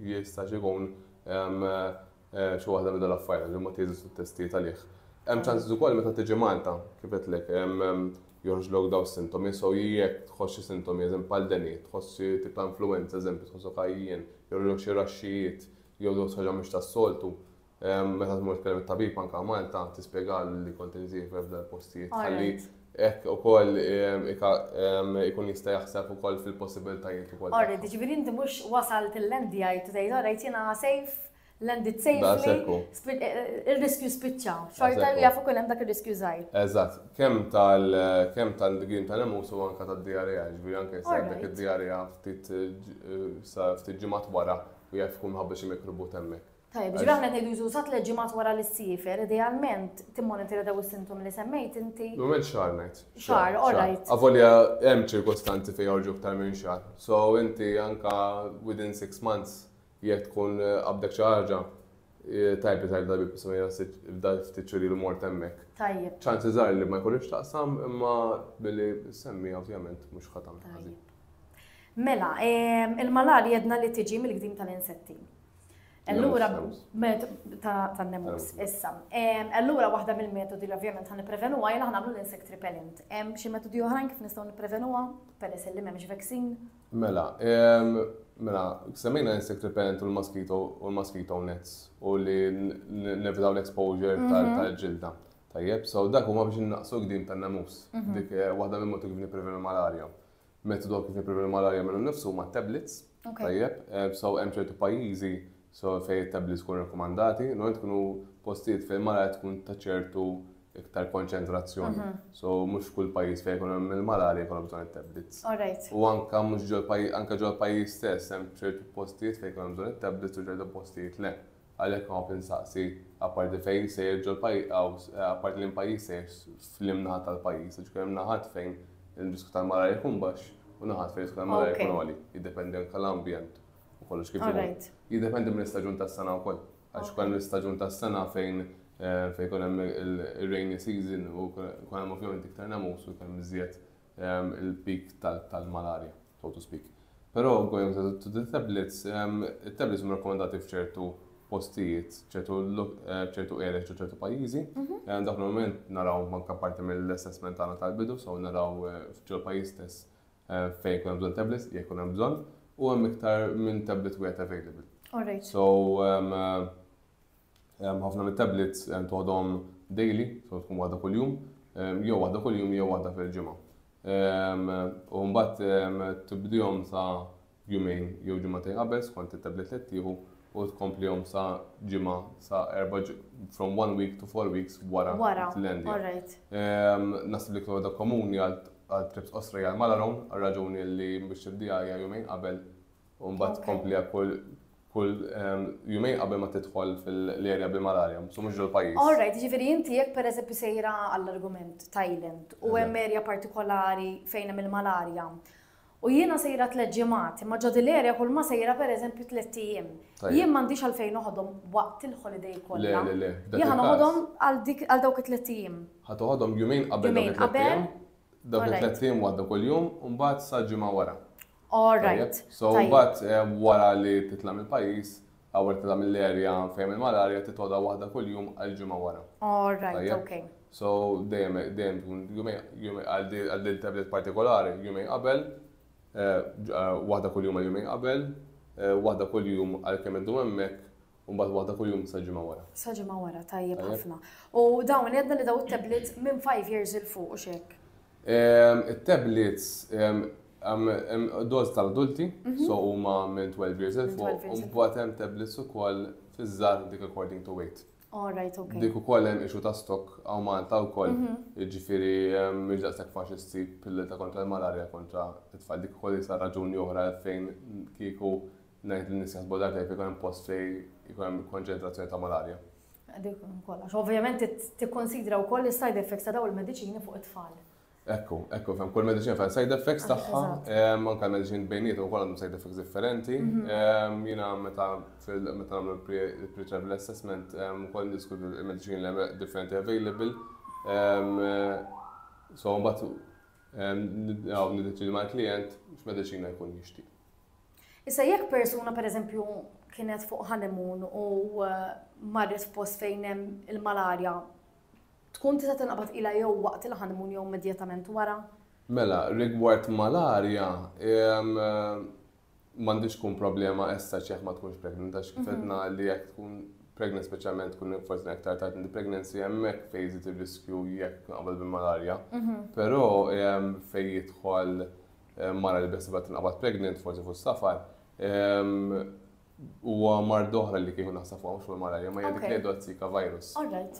jistax ikun xi waħda minn dawn l-affarijiet għax imbagħad jeżistu t-testijiet għalih. Hemm ċansiż ukoll meta tiġi Malta, kif għedtlek, joħorġlok dawn is-sintomi, so jekk tħoss xi sintomi, eżempju bħal deni, tħoss xi tip ta' influwenza, eżempju, tħossok għajjien, joħorġlok xi raxxijiet, jew tħoss ħaġa mhux tas-soltu, Meta tmur tkellem it-tabib anke Malta tispjegalu li kont inżiefer f'dan il-postijiet ħalli hekk ukoll ikun jista' jaħseb ukoll fil-possibilitajiet ukoll. All right, jiġifieri inti mhux wasalt il-NDI u tgħid all right jiena safe, landed safely, ir-riskju spiċċa. Xorta jaf ikun hemm dak ir-riskju żgħir. Eżatt, kemm tal-grimt tal-imus u anke tad-diarrea, jiġifieri anke jista' jkollok id-diarrea ftit ġimgħat wara u jaf ikun minħabba xi mikrobu temmek. Tajjeb, ġifieri aħna qed ngħidu jużu sa tliet ġimgħat wara li ssiefer, idealment timmonitorja daw is-sintomi li semmejt inti. Normalment xahar ngħid. Xahar, all right. Avolja hemm ċirkostanzi fejn joħorġu iktar minn xahar. So inti anke within six months jekk tkun qabdek xi ħaġa, tajb li tajb darbi bisma jgħassib f'dal ftit xhur ilu mort hemmhekk. Tajjeb. ċansi żgħar li ma jkunx taqsam imma billi semmi ovvjament mhux ħatam ħażin. Mela, il-malarja jedna li tiġi mill-gdim tal-insetti. Allura, ta' nemus, issa. Allura, waħda mill-metodi li ovvjament ħan niprevenu għaj laħna għamlu l-insect repellent. Hemm xi metodi oħrajn kif nistgħu niprevenu għam, peress li m'hemmx vaksin? Mela, mela, semmejna insect repellent u l-mosquito u l-mosquito nets u li nevitaw l-exposure mhm. tal-ġilda. Tajjeb, so dak huma biex naqsu gdim tan-namus. Mhm. Dik eh, waħda mill-moti kif niprevenu malaria. Metodu għal kif nipprevenu l-malarja minnu nnifsu huma t-tablets. Tajjeb, so hemm ċertu pajjiżi so fejn it-tablets tkun rakkomandati, normalment tkunu postijiet fejn malarja tkun ta' ċertu iktar konċentrazzjoni. Mhm. So mhux kull pajjiż fejn jkun hemm il-malarja jkollhom bżonn it-tablets. U anke mhux ġol pajjiż, anke ġol pajjiż stess hemm ċertu postijiet fejn jkun hemm bżonn it-tablets u ċertu postijiet le. Għalhekk ma nagħrf insaqsi, apparti fejn sejjer ġol apparti li l-pajjiż sejjer f'liem naħat tal-pajjiż, għax ikun hemm naħat fejn ir-riskju tal-malarja jkun baxx u naħat fejn ir-riskju tal-malarja jkun għoli. Jiddependi anke l-ambjent u kollox kif imur. Jiddependi mill-istaġun tas-sena wkoll, għax ikun hemm l-istaġun tas-sena fejn fejn ikun hemm ir-rainy season u jkun hemm ovvjament iktar nemus u jkun hemm iżjed il-peak tal-malarja. so to speak. Però going to to the tablets, it-tablets huma rakkomandati f'ċertu postijiet, ċertu ċertu areas ġo ċertu pajjiżi. Għand dak l-moment naraw manka parti mill-assessment tagħna tal-bidu, so naraw ġol pajjiż stess fejn kun hemm bżonn tablets, jekk kun hemm bżonn, u hemm iktar minn tablet wieħed available. So Ħafna mit-tablets toħodhom daily, so tkun waħda kuljum, jew waħda kuljum jew waħda fil-ġimgħa. U mbagħad tibdihom sa jumejn jew ġimgħatejn qabel skont it-tablet li tieħu u tkomplihom sa ġimgħa sa erba' from one week to four weeks wara l-endja. Nasib li kloda komuni għal trips qosra għal malaron, għal raġuni li biex tibdija hija jumejn qabel U mbagħad tkompli għal kull kull ehm, jumejn qabel ma tidħol fil-area bil-malarja, so mhux ġol-pajjiż. All right, ġifieri inti jekk pereżempju sejra għall-argument Thailand u hemm area partikolari fejn hemm il-malarja. U jiena sejra tliet ġimgħat, imma ġod l-area kull ma sejra pereżempju tliet ijiem. Jien m'għandix għalfejn noħodhom waqt il-holiday kollha. Le, le, le. Jien noħodhom għal dawk it-tliet ijiem. Ħa toħodhom jumejn qabel dawk it-tliet ijiem. Dawk it-tliet ijiem għadda kull jum, u mbagħad sa ġimgħa wara. All right. So, bat wara li titla mill pajis għawar titla mill area fejem il-malarja titoda wahda kull jum għal-ġimma wara. All right, ok. So, dejjem, dejjem tkun jumej għal-din tablet partikolari, jumej qabel, eh, eh, wahda kull jum għal-jumej qabel, eh, wahda kull jum għal-kem id-dum emmek, U mbagħad waħda kuljum sa ġimgħa wara. Sa ġimgħa wara, tajjeb ħafna. U dawn għedna li daw it-tablets minn 5 years il fuq u xek. Ehm, it-tablets ehm, doż tal-adulti, mhm. so huma minn 12 years il fuq, u mbagħad hemm tablets ukoll fiż-żgħar dik according to weight. All right, okay. Dik ukoll hemm ixu ta' stok għaw Malta wkoll, mhm. jiġifieri ehm, mhux daqshekk faċli ssib pillita kontra l-malarja kontra t-tfal dik ukoll isa raġuni oħra fejn kieku Ngħid li n-nies jaħsbu dartejn fejn ikun hemm post fejn ikun hemm konċentrazzjoni ta' malarja. Dik kollha. Ovvjament tikkonsidra wkoll is-side effects ta' dawn il-mediċini fuq it-tfal. Ekku, ekku, fem, kull medicine fem side effects taħħa, manka medicine bejniet u kolom side effects differenti. Mhm. Jina meta meta namlu pre-travel assessment, u koll nisku medicine li differenti available. So, mbatt, għaw nidetri ma' klient, x-medicina jkun jishtiq. Issa jekk persuna pereżempju kienet fuq honeymoon u eh, marret f'post fejn hemm il-malarja, tkun tista' tinqabad ilha jew waqt il-honeymoon jew immedjatament wara? Mela, rigward malarja, ehm, m'għandix tkun problema essa ċeħ ma tkunx pregnant, għax kif mhm. li jekk tkun pregnant speċjalment tkun forsi aktar tard in pregnancy hemmhekk fejn jżid ir-riskju jekk qabel bil-malarja. Mhm. Però ehm, fejn jidħol mara li beħsibha tinqabad pregnant, forsi fuq safar, huwa mard oħra li kieku naħseb fuq mhux mal-malaria, ma jgħidik li għadu Zika virus.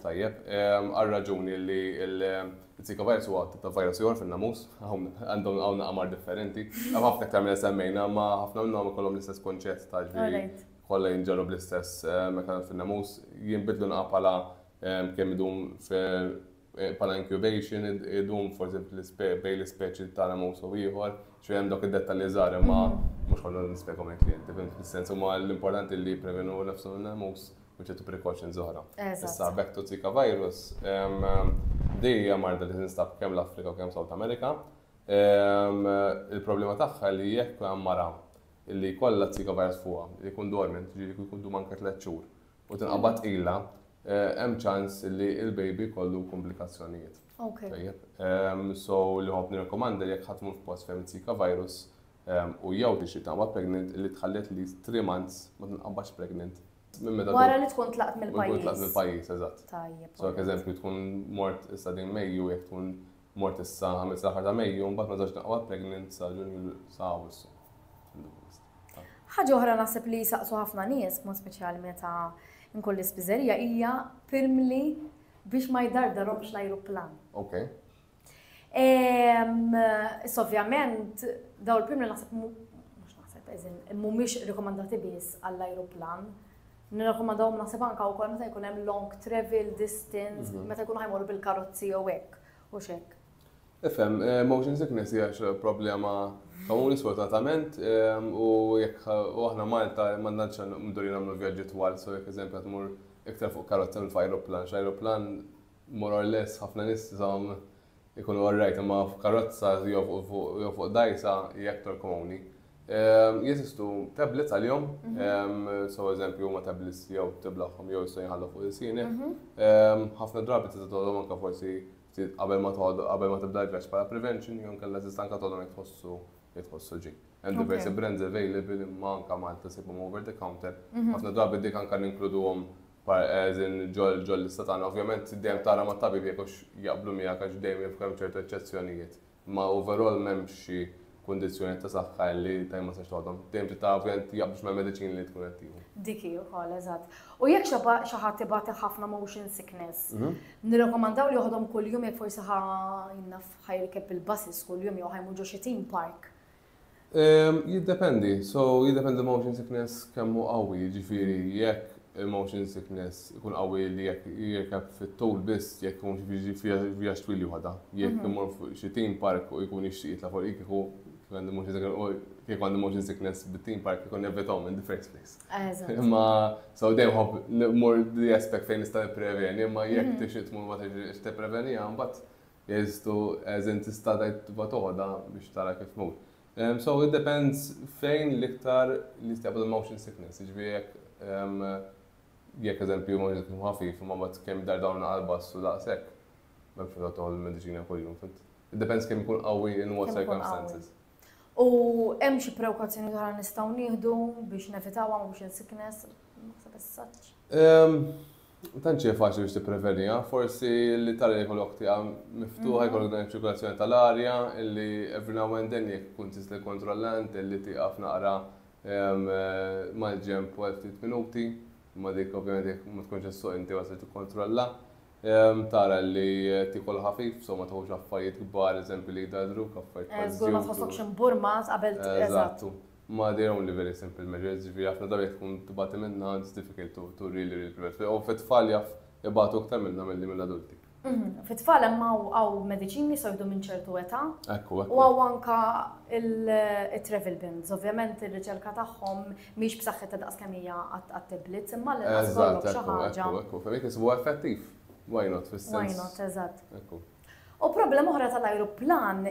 Tajjeb, għal raġuni li l-Zika virus huwa ta' virus jgħor fil-namus, għandhom għawn għamar differenti, għam ħafna ktar minn semmejna, ma ħafna minnhom ikollhom l-istess konċett ta' ġli kollha jinġarru bl-istess mekanizmu fil-namus, jinbidlu naqapala kemm idum bħala incubation idum forsi bejn l-ispeċi tara mowsu ieħor, xi hemm dawk id-dettalji żgħar imma mhux ħollu nispjegahom il-klijenti, fim fis-sens huma l-importanti li prevenu nafsu minna mows u ċertu precautions oħra. Issa back to Zika virus, dejja marda li tinstab kemm l-Afrika u kemm South America. Il-problema tagħha li jekk hemm mara li kollha Zika virus fuqha, jkun dormant, ġifieri jkun dum anke tliet xhur, u tinqabad tqila, hemm ċans li l-baby jkollu komplikazzjonijiet. Tajjeb. So li ħobb nirrekomanda jekk ħadd mur f'post fejn it-Zika virus u jew tixtieq tinqabad pregnant li tħallet li 3 months ma tinqabadx pregnant Wara li tkun tlaqt mill-pajjiż. Tkun tlaqt mill-pajjiż, eżatt. Tajjeb. So, eżempju, tkun mort issa din Mejju jekk tkun Mort issa, għamilt sal-aħħar ta' Mejju, mbagħad ma żewġt naqgħod pregnant sa Ġunju sa Awwissu. Ħaġa oħra naħseb li jisaqsu ħafna nies, mod speċjali meta nkun l-ispiżerija hija pirmli biex ma jdardarhomx l-ajruplan. Ok. Issa ovvjament daw l-pirmli naħseb mhux naħseb eżin mhumiex rikomandati biss għall-ajruplan. Nirrakkomandahom naħseb anke wkoll meta jkun hemm long travel distance, mhm. meta jkunu ħajmorru bil-karozzi jew hekk u xek. Ifhem, eh, motion sickness hija problema komuni sfortunatament eh, u jekk u aħna Malta ma nantx mduri nagħmlu vjaġġi twal, so jekk eżempju qed mur iktar fuq karozza minn f'ajruplan, x'ajruplan more or less ħafna nies żomm Ikunu all right imma fuq karozza jew fuq dgħajsa hija aktar komuni. Jeżistu tablets għalihom, so eżempju huma tablets jew tiblaħħom jew jistgħu jinħallu fuq ilsienek. Mhm. Ħafna drabi tista' tgħodhom anke forsi qabel ma tgħodu qabel ma tibda l-vjaġġ bħala prevention jew inkella tista' anke tgħodhom jekk tħossu jekk tħossu ġej. Hemm diversi brands available imma anke Malta sibhom over the counter. Mhm. Ħafna drabi dik anke ninkluduhom As in ġol-lista tagħna. Ovvjament dejjem tara mat-tabib jekk hux jaqblu miegħek għax dejjem jaf ikun hemm ċertu eċċezzjonijiet. Imma overall m'hemmx xi kundizzjonijiet ta' saħħa li tajjeb ma tistax toħodhom. Dejjem trid tara ovvjament jaqblux mal-mediċini li tkun qed tieħu. Dik hi wkoll, eżatt. U jekk xi ħadd ibati ħafna motion sickness, nirrakkomandaw li joħodhom kuljum jekk forsi ħa, naf, ħa jirkeb il-buses kuljum jew ħa jmur ġo xi theme park? Ehm, jiddependi. So, jiddependi l-motion sickness kemm hu qawwi, jiġifieri jekk il-motion sickness ikun qawwi li jekk jirkeb fit-tul biss jekk ikun xi vjaġġ twil juħodha. Jekk mhm. imur fuq xi team park u jkun jixtieq jitla' fuq kieku kieku għandi motion sickness bit-team park kieku nevitaw in the first place. Imma so dejjem ħobb mur di aspect fejn nista' nippreveni, imma jekk mhm. tixtieq tmur ma tixtieq tippreveni mbagħad Jeżistu, as in tista' tgħid tibgħat għoda biex tara kif tmut. Ehm, so it depends fejn l-iktar li tistaqbad il-motion sickness, jiġifieri jekk ehm, jekk eżempju motion sickness ħafif imma mbagħad kemm dar dawn qalbas u daqshekk. M'hemmx meta toħol il-mediċina kuljum, fint. It depends kemm ikun qawwi in what circumstances. U hemm xi prewkazzjoni oħra nistgħu nieħdu biex nevitawha ma biex sickness naħseb is-saċ. Ehm, Tanċi faċli biex tipprevenija, forsi li tara li kollok tiqa miftuħa, mhm. jkollok dan ċirkolazzjoni tal-arja, illi every now and then jek kun tista' kontrollant, illi tiqa f'naqra ehm, mal-ġemp u ftit minuti, ma dik ovvjament jek ma tkunx s-suq inti għasli tikkontrolla. Tara li tiekol ħafif, so ma tieħux affarijiet kbar, eżempju li jdarrdruk, affarijiet bħal żewġ. Żgur ma tħossokx imburmat qabel eżatt. Ma they only very simple measures, ġifieri ħafna drabi jekk tkun tbati minnha it's difficult to really really prevent. U fit-tfal jaf ibatu aktar minnha milli mill-adulti. Fit-tfal hemm hawn mediċini so jdu minn ċertu età. Ekku, ekku. U hawn anka il-travel bins, ovvjament ir-riċerka tagħhom Mhix b'saħħitha daqs kemm hija għat-tablets, imma għall-inqas kollok xi ħaġa. Ekku, ekku, fejn kisbu effettiv. Why not fis-sens? Why not, eżatt. Ekku. U problema oħra tal-ajruplan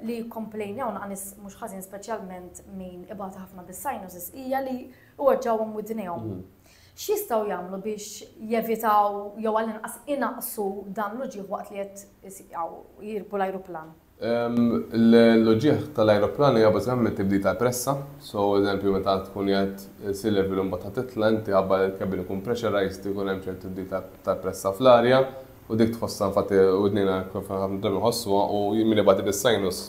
li komplejnjaw naqnis mhux ħażin speċjalment min ibata ħafna bis-sinuses hija li uweġġawhom widnejhom. Mhm. X'jistgħu jagħmlu biex jevitaw jew għall-inqas inaqsu dan l-uġieħ waqt li qed jirpu l-ajruplan? L-uġigħ tal-ajruplan hija bażikament tibdil tal-pressa. So, eżempju, meta tkun qiegħed sea level u mbagħad ħa titla' inti ħabba li l-cabin ikun pressurized ikun hemm ċertu tibdil tal-pressa fl-arja u dik tħossha infatti widnejna ħafna drabi nħossuha u min ibati bis-sinus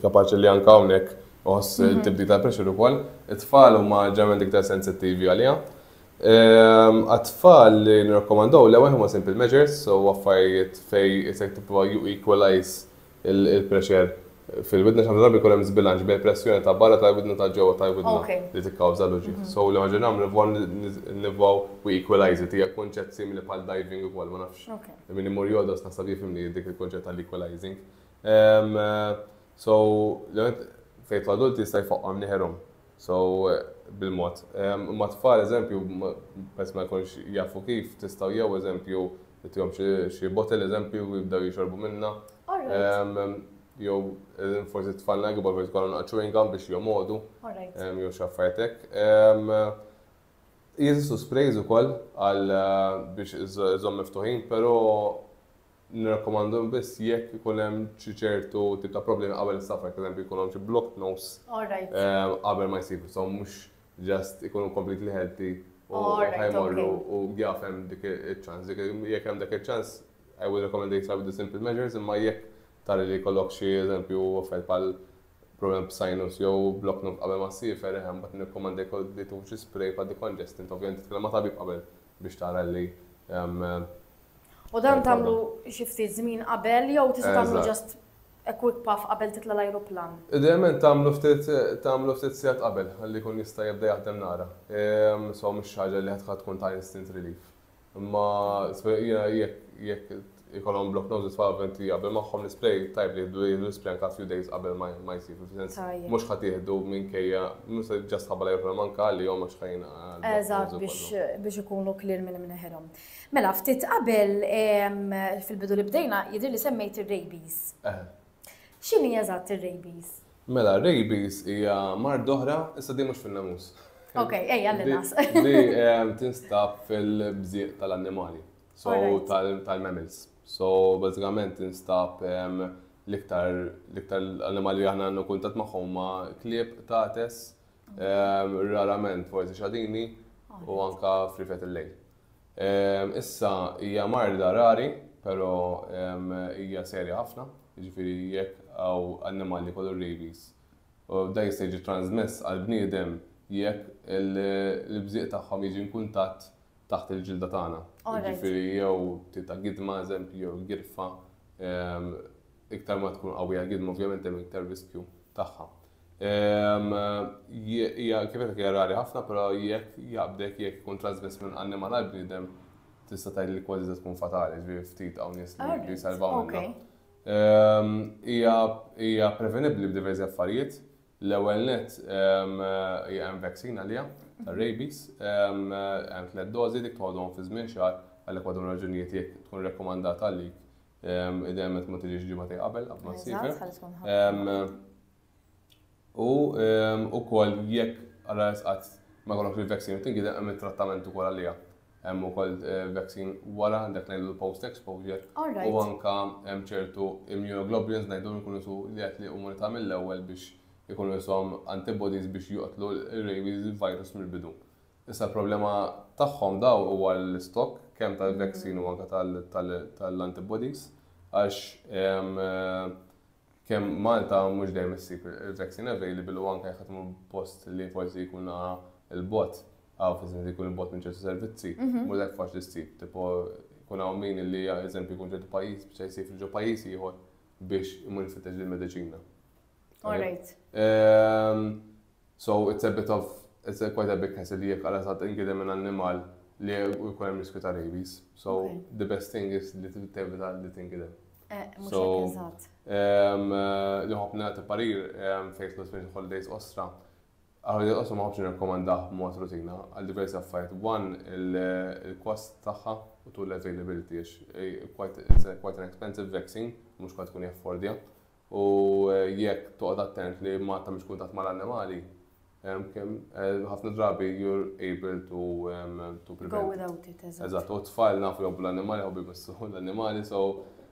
kapaċi li anke hawnhekk iħoss tibdil tal-pressure ukoll. It-tfal huma ġeneralment iktar sensittivi għaliha. Għat-tfal li nirrakkomandaw l-ewwel huma simple measures, so affarijiet fejn isek tipprova you equalize il-pressure fil-widna għax ħafna drabi jkun hemm żbilanċ bejn pressjoni ta' barra tal-widna u ta' ġewwa tal-widna li tikkawża l-uġigħ. So l-ewwel ħaġa li nagħmlu nipprovaw nipprovaw we equalize it. Hija kunċett simili bħal diving ukoll, ma nafx min imur jogħdos naħseb jifhimni dik il-kunċett tal-equalizing. So fejn jidħlu adulti jista' jfaqquhom nieħerhom. So, bil-mod. Imma t-tfal, eżempju, peress ma jkunx jafu kif, tistgħu jew, eżempju, titihom xi bottle, eżempju, u jibdew jixorbu minnha. Jew forsi t-tfalna l-kbar forsi jkollhom naqa' chewing gum biex jomgħodu. Jew xi affarijiet hekk. Jeżistu sprays ukoll għal biex iżżomm miftuħin, però Nirrakkomandhom biss jekk ikun hemm xi ċertu tip ta' problemi qabel is-safar, per eżempju jkun hawn xi blocked nose qabel ma jsir, so mhux just ikunu completely healthy u ħa jmorru u jaf hemm dik iċ-ċans. Jekk hemm dak iċ-ċans, I would recommend they start with the simple measures, imma jekk tara li jkollok xi eżempju affarijiet bħal problem b'sinus jew blocked nose qabel ma ssiefer, eħe mbagħad nirrakkomanda jkollok li tieħu xi spray bħal decongestant, ovvjament titkellem ma' tabib qabel biex tara li U dan tagħmlu xi ftit żmien qabel jew tista' tagħmlu ġast a quick puff qabel titla' l-ajruplan? Idealment tagħmlu ftit tagħmlu ftit sigħat qabel ħalli jkun jista' jibda jaħdem nara. So mhux xi ħaġa li ħadd tkun ta' instant relief. Imma jiena jekk jekk Ikollhom block noses f'avent li jaqbel magħhom l-ispray, tajjeb li jieħdu l-ispray anke a few days qabel ma jsir, fis-sens mhux ħa tieħdu minkejja, mhux se ġast ħabba l-ajruplan manka għalihom għax ħa jingħaqad. Eżatt, biex ikunu clear minn imneħirhom. Mela, ftit qabel fil-bidu li bdejna jidhirli li semmejt ir-rabies. X'inhi eżatt ir-rabies? Mela, rabies hija mar doħra, issa di mhux fin-namus. Ok, ejja l-nas. Di tinstab fil-bżieq tal-annimali. So tal-mammals. So bażikament instab l-iktar l-animali li aħna għandna kuntat magħhom ma' klieb, tates, rarament forsi xadini u anka frifet il-lejl. Issa hija marda rari, però hija serja ħafna, jiġifieri jekk hawn annimali kollu rabies. U da jista' jiġi transmess għall-bniedem jekk il-bżieq tagħhom jiġi kuntatt taħt il-ġilda tagħna. Ġifieri jew tita gidma eżempju jew girfa ehm, iktar ma tkun qawwija gidma ovvjament hemm iktar riskju tagħha. Ehm, hija kif qed rari ħafna però jekk jaqbdek jekk ikun trasmess minn annimal għal bniedem tista' tgħid li kważi tkun fatali, ġifieri ftit hawn nies li jsalvaw minnha. Ehm, hija prevenibbli b'diversi affarijiet, L-ewwel nett hemm vaccine għaliha tar-rabies, hemm tliet dożi dik toħodhom fi żmien xahar għalhekk għadhom raġunijiet jekk tkun rekkomandat għalik idejjem qed ma tiġix ġimgħatej qabel qabel ma ssiefer. U ukoll jekk għal qatt ma jkollokx il-vaccine tingideb hemm it-trattament ukoll għaliha. hemm ukoll vaccine wara dak li ngħidu l-post exposure. U anka hemm ċertu immunoglobulins ngħidu li jkunu su li qed li immunità mill-ewwel biex ikunu ishom antibodies biex joqtlu r-rabies virus mill-bidu. Issa l-problema tagħhom dawn huwa l-istock kemm tal-vaccine u anka tal-antibodies għax kemm Malta mhux dejjem issib il-vaccine available u anke jekk qed imur post li forsi jkun naqra 'l bogħod, hawn fi sens li jkun 'l bogħod minn ċertu servizzi, mhux daqshekk faċli ssib. Tipo jkun hawn min li eżempju jkun ċertu pajjiż biex se jsafr ġo pajjiż ieħor biex imur ifittex dil-mediċina. All right. So it's a bit of, it's a quite a big hassle li jekk Alla sadd ingieden minn annimal li jkun hemm riskju ta' rabies. So the best thing is li tevita li tingieden. Eh, mhux hekk eżatt. Ehm, li ħobb nagħti parir ehm, fejn tkun spin holidays ostra. Holidays ostra ma ħobbx nirrakkomandah b'mod rutina għal diversi affarijiet. One il-kost tagħha u tul l-availability eh, quite an expensive vaccine, mhux kont tkun jaffordja. U jekk toqgħod attent li Malta mhix kuntatt mal-annimali, ħafna drabi you're able to to prevent. Go without it, eżatt. Eżatt, u t-tfal nafu jħobbu l-annimali, jħobbu jmissu l-annimali, so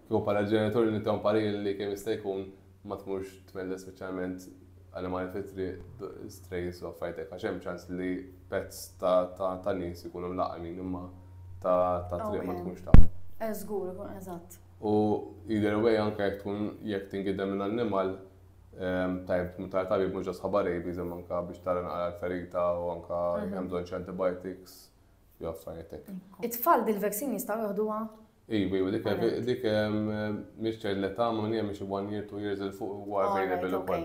kieku bħala ġenitur li inti parir li kemm jista' jkun ma tmurx tmelles speċjalment annimali fit-triq, strays u affarijiet hekk, għax hemm ċans li pets ta' nies ikunu mlaqqmin imma ta' triq ma tkunx taf. Żgur, eżatt. U either way anke jekk tkun jekk tingiedem minn annimal tajjeb tmur tara tabib mhux just ħabba rabies imma anke biex tara naqra l-ferita u anke jekk hemm bżonn xi antibiotics jew affarijiet hekk. It-tfal din il-vaccine jistgħu jieħduha? Iva, iva, dik dik mhix ċert l-età ma minn hija mhix one year, two years il fuq huwa available ukoll.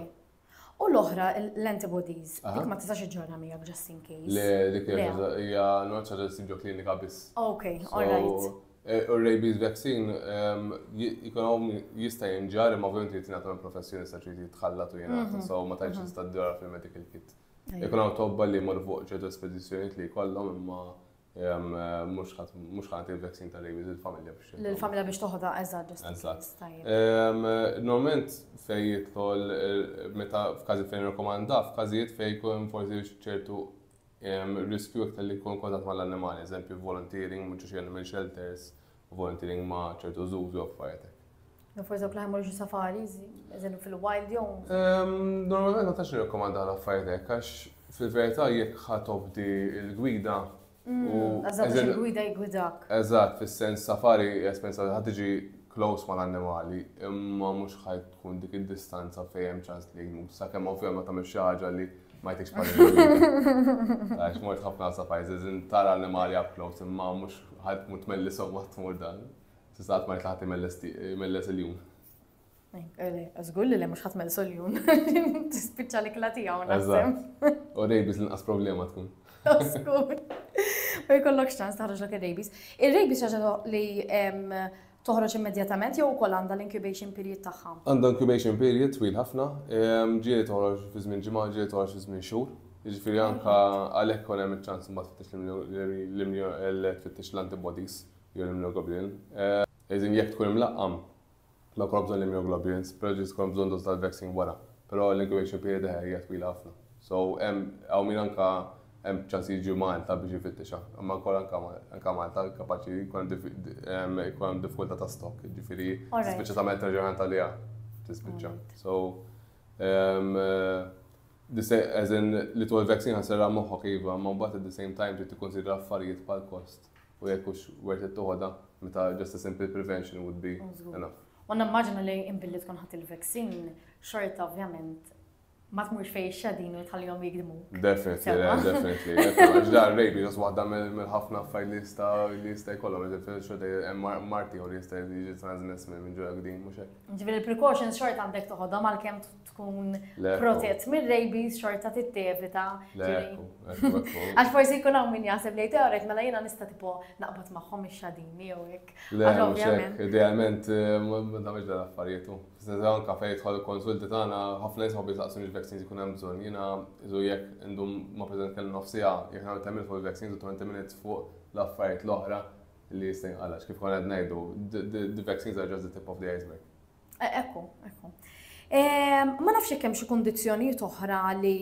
U l-oħra, l-antibodies, dik ma tistax iġġorna miegħek just in case. Le, dik hija l-għodda ċaġa li sibġu klinika biss. Ok, alright. Eh, u rabies vaccine ehm, jikonom jista jinġar imma ovvijament li tingħatom professjoni sa ċi jitħallat u jingħata, mhm. so ma tantx mhm. tista' ddora fil-medical kit. Jikonom tobba li mor fuq ċertu spedizzjonijiet li jkollhom imma Mux ħat il-vaccin ta' rabies il-familja biex. Il-familja biex toħda, eżad, ġust. Normalment fej jitħol, meta f'kazi fejn rekomanda, f'kazijiet fej kun forsi ċertu riskju iktar li kun kontat mal-annimali, eżempju volunteering, mux xie animal shelters, volunteering ma' ċertu żuż u affarijiet hekk. No forse dawk li ħemmur xi safaris, eżempju fil-wild jew. Ehm, normalment ma tax nirrakkomanda l-affarijiet hekk għax fil-verità jekk ħa tobdi l-gwida. Mm, eżatt il-gwida jgwidak. Eżatt, fis-sens safari jespensa li ħad tiġi close mal-annimali, imma mhux ħaj tkun dik id-distanza fejn hemm ċans li jmut. Sakemm ovvjament ma tagħmel xi ħaġa li Ma jtikx pari l-għalina. Għax mort ħafna sa pajzi, zin tara animali up close, imma mux ħad mut melli somma t-mur dan. Sistat ma jtlaħat imelles il-jum. Zgur li li mux ħat mellis il-jum. Tispicċa li klati għaw naħsem. U rejbis l-inqas problema tkun. Zgur. U jkollok xċans taħroġ l-ok rejbis. Il-rejbis xaġa li Toħroġ immedjatament jew ukoll għandha l-incubation period tagħha? Għandha incubation period twil ħafna. Ġieli toħroġ fi żmien ġimgħa, ġieli toħroġ fi żmien xhur. Jiġifieri anke għalhekk ikun hemm iċ-ċans imbagħad tfittex tfittex l-antibodies jew l-immunoglobulin. Iżin jekk tkun imlaqqam ma jkollok bżonn l-immunoglobulins, però jista' jkollok bżonn doża tal-vaccine wara. Però l-incubation period eħe hija twila ħafna. So hemm hawn min anke hemm ċans jiġi Malta biex ifittixha. Imma wkoll anke Malta kapaċi jkun hemm diffikultà ta' stock, jiġifieri tispiċċa tagħmel treasure għaliha tispiċċa. So as in li tħol vaccine ħassirha moħħok iva, imma mbagħad at the same time trid tikkunsidra affarijiet bħal kost u jekk hux worth it toħodha meta just a simple prevention would be enough. U nimmaġina li imbilli tkun ħadd il-vaccine xorta ovvjament Ma tmurx fejn ix-xadin u tħallihom jigdmuk. Definitely, le, Sewwa. definitely. Definitely, Għax dan rejbi, għax waħda mill- mill-ħafna affarijiet li jista' li jista' jkollhom, ġifieri xorta hemm mar- marti jew li jista' jiġi transmess minn minn ġurek din, mhux hekk? Ġifieri l-precautions xorta għandek toħodhom għalkemm t- tkun Le, ekku. protett mir-rabies xorta tittevita. Le, ġifieri- ekku, ekku, ekku. Għax forsi jkun hawn min jaħseb li teoret mela jiena nista' tipo naqbad magħhom ix-xadini jew hekk. Le, Għax mhux ovvjament. hekk. Idealment, eh, ma ma tagħmilx dan l-affarijiet hu. Iżda anke fejn jidħol il-konsulti tagħna, ħafna nies ħobbi jistaqsuni x-vaccines ikun hemm bżonn. Jiena iżu jekk indum ma' president nitkellem nofs siegħa, jekk nagħmel ten minutes fuq il-vaccines u twenty minutes fuq l-affarijiet l-oħra li jista' jinqal' għax kif konna qed ngħidu, the vaccines are just the tip of the iceberg. Ekku, ekku. Ma nafx jekk hemm xi kundizzjonijiet oħra li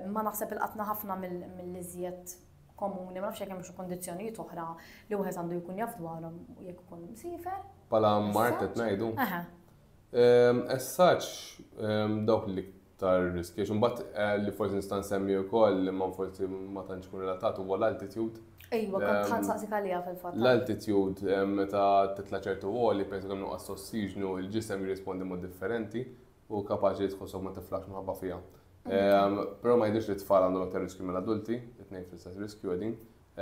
ma naħseb ilqatna ħafna mill-iżjed komuni, ma nafx jekk hemm xi kundizzjonijiet oħra li wieħed għandu jkun jaf dwarhom jekk ikun msiefer. Pala mart qed ngħidu? Aha. Ehm, essaċ ehm, dawk li tar riskju xumbat eh, li forsi nistan semmi u koll li man forsi ma tantx kun relatat huwa l-altitude. Ejwa, kont ehm, ħan saqsik għalija fil-fatt. L-altitude meta titla ċertu għoli, pensu kemm nuqqas ossiġnu, il-ġisem jirrispondi mod differenti. u kapaċi jidħol sew ma tiflaħx minħabba fiha. Ehm, però ma jidhirx li t-tfal għandhom aktar riskju mill-adulti, it-tnejn fl-istess riskju qegħdin.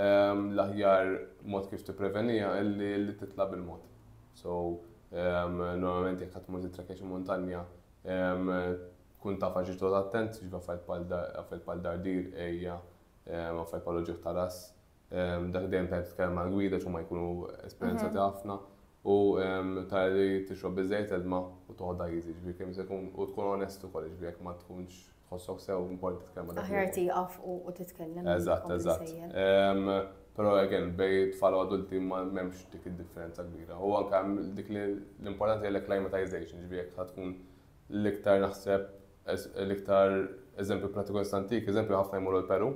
Ehm, l-aħjar mod kif tipprevenija illi li titla' bil-mod. So, ehm, normalment jekk ħadd mużi trekkex montanja, kun taf għax ġiġdod attent, ġiva fajt pal dardir, ejja, fajt pal oġiħ ta' ras, Dak dejjem tajb titkellem għal gwida x'huma jkunu esperjenzati ħafna u tara li tixrob biżejjed ilma u toħodha easy, ġifieri kemm se jkun u tkun onest ukoll, ġifieri jekk ma tkunx tħossok sew importanti titkellem ma' dak. Aħjar tieqaf u titkellem. Eżatt, eżatt. Però again, bejn tfal u adulti m'hemmx dik id-differenza kbira. U anke dik l-importanti hija l-acclimatization, ġifieri jekk ħa tkun l-iktar naħseb l-iktar eżempju prattiku nista' ntik, eżempju ħafna jmorru l-Peru,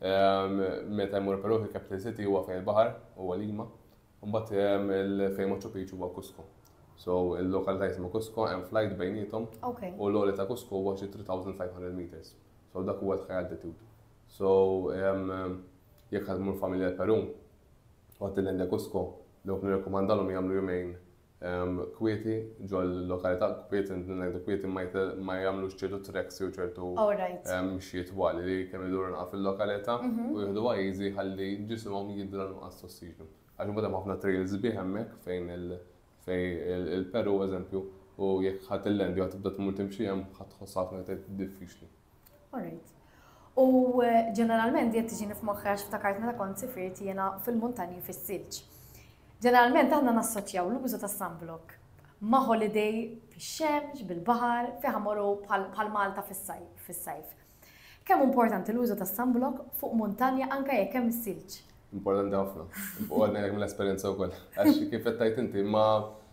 Meta jmur Peru fil-capital city huwa fejn il-baħar huwa Lima. Mbagħad fejn Machu Picchu huwa Cusco. So il-lokalità jismu Cusco hemm flight bejnietom u l-għoli ta' Cusco huwa xi 3500 meters. So dak huwa l-high altitude. So jekk ħadd imur familja l-Peru u ħadd il-lenda Cusco, dawk nirrekomandalhom jagħmlu jumejn kwieti, ġol-lokalità kwiet, intni ngħidu kwieti ma jagħmlux ċertu treks jew ċertu mxiet twal li kemm iduru naqra fil-lokalità u jieħdu għajzi ħalli ġisimhom jidra nuqqas t'ossiġnu. Għax imbagħad hemm ħafna trails sbieħ hemmhekk fejn il-Peru eżempju u jekk ħadd il-land jew ħadd tibda tmur timxi hemm ħadd tħossha ħafna iktar diffiċli. Alright. U eh, ġeneralment di tiġini f'moħħi għax ftakart meta kont sifirt jiena fil-muntanji fis-silġ. Ġeneralment aħna nassoċjaw l-użu ta' sunblock ma' holiday fix-xemx, bil-baħar, fi ħamoru bħal Malta fis-sajf. Kemm importanti l-użu ta' sunblock fuq muntanja anke jekk hemm is-silġ? Importanti ħafna. U għadna jek mill-esperienza u koll. Għax kif tajt inti ma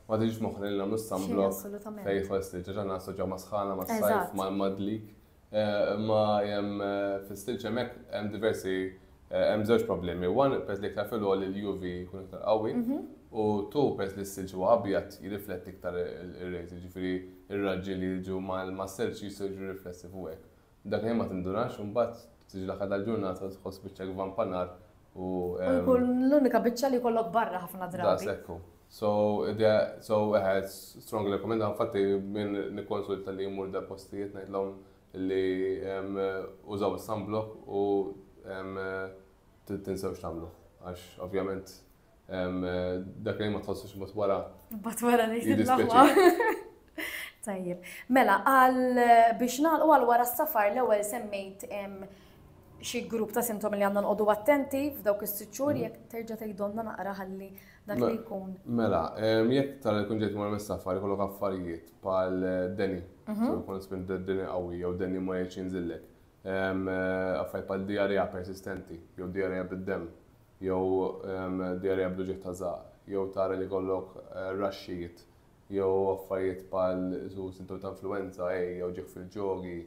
Ma tiġix f'moħħna li nagħmlu sunblock fejn jidħol istil ġeġa nasu ġewma sħana ma' sajf ma' madlik. Eh, ma jem eh, fil-stil ġemek hemm diversi eh, hemm żewġ problemi. One pez li iktar fil-għol il-UV jkun iktar qawwi mhm. u tu pez li s-silġ huwa abjad jirrifletti iktar ir-rejt, ġifieri ir-raġġi li jiġu mal-silġ jiġu riflessi fuq Dakinhar ma tindunarx u mbagħad tiġi l-aħħar tal-ġurnata u tħoss biċċa gvamp ta' nar u. U jkun l-unika biċċa li jkollok barra ħafna drabi. Daqshekk hu. So, idea, so eħe, strongly recommend, infatti min nikkonsulta li jmur da postijiet ngħidlhom li użaw is-sunblock u tinsewx tagħmluh. Għax ovvjament Dak li ma tħossux mbagħad wara. Mbagħad wara ngħid Tajjeb. Mela, għal biex nagħlqu għal wara s-safar l-ewwel semmejt xi grupp ta' sintomi li għandna nqogħdu attenti f'dawk is-sitt xhur mhm. jekk terġa' tgħidonna naqra ħalli dak li jkun. Mela, jekk tal kun ġejt mar mis-safar ikollok affarijiet bħal eh, deni, mhm. so jkun spin deni qawwi jew deni ma jgħidx jinżillek. Eh, affarijiet bħal diarrea persistenti jew diarrea bid-dem jew djarja bl-uġigħ ta' żahar, jew tara li jkollok raxxijiet jew affarijiet bħal xi sintomi ta' influwenza, għeji jew ġigħ fil-ġogi,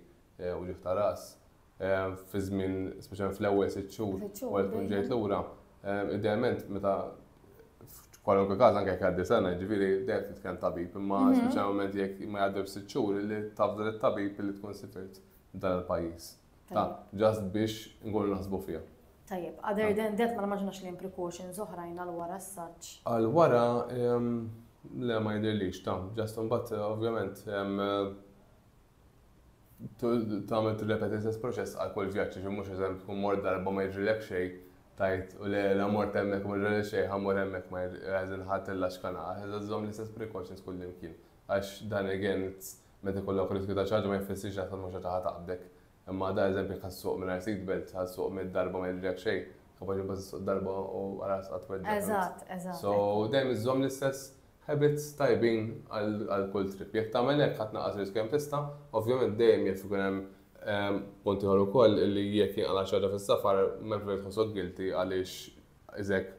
uġigħ ta' ras, fi żmien, speċjalment fl-ewwel sitt xhur wara li tkun ġejt lura, idealment meta f'kwalunkwe każ anke jekk jgħaddi sena, jiġifieri dejjem trid tkellem tabib, imma speċjalment jekk ma jgħaddewx sitt xhur, li tafda lit-tabib li tkun sifirt dan il-pajjiż. Ta' ġast biex nkunu naħsbu fiha. Tajjeb, other than that ma nimmaġinax li hemm precautions oħrajn għal wara s-saġġ. Għal wara, le ma jidhirlix, ta' ġast imbagħad ovvjament tagħmel tirrepeti l-istess proċess għal kull vjaġġ, ġi mhux eżempju tkun mort darba ma jiġrilek xejn, tajt u le la mort hemmhekk ma ġrali xejn, ħa mmur hemmhekk ma ħadd illaxkana, ħa żżomm l-istess precautions kullimkien. Għax dan again, Meta jkollok dak ir-riskju ta' ċaġġa ma jfissirx li aktar mhux ħaġa ħa taqbdek. Imma da eżempju jekk ħa ssuq mingħajr seat belt, ħa ssuq mitt darba ma jiġrilek xejn, kapaċi imbagħad issuq darba u ħalas qatt tweġġa' flus. Eżatt, eżatt. So dejjem iżżomm l-istess habits tajbin għal kull trip. Jekk tagħmel hekk ħa tnaqqas ir-riskju kemm tista'. Ovvjament dejjem jaf ikun hemm punt ieħor ukoll illi jekk jinqala' xi ħaġa fis-safar m'hemmx bżonn li tħossok guilty għaliex iżek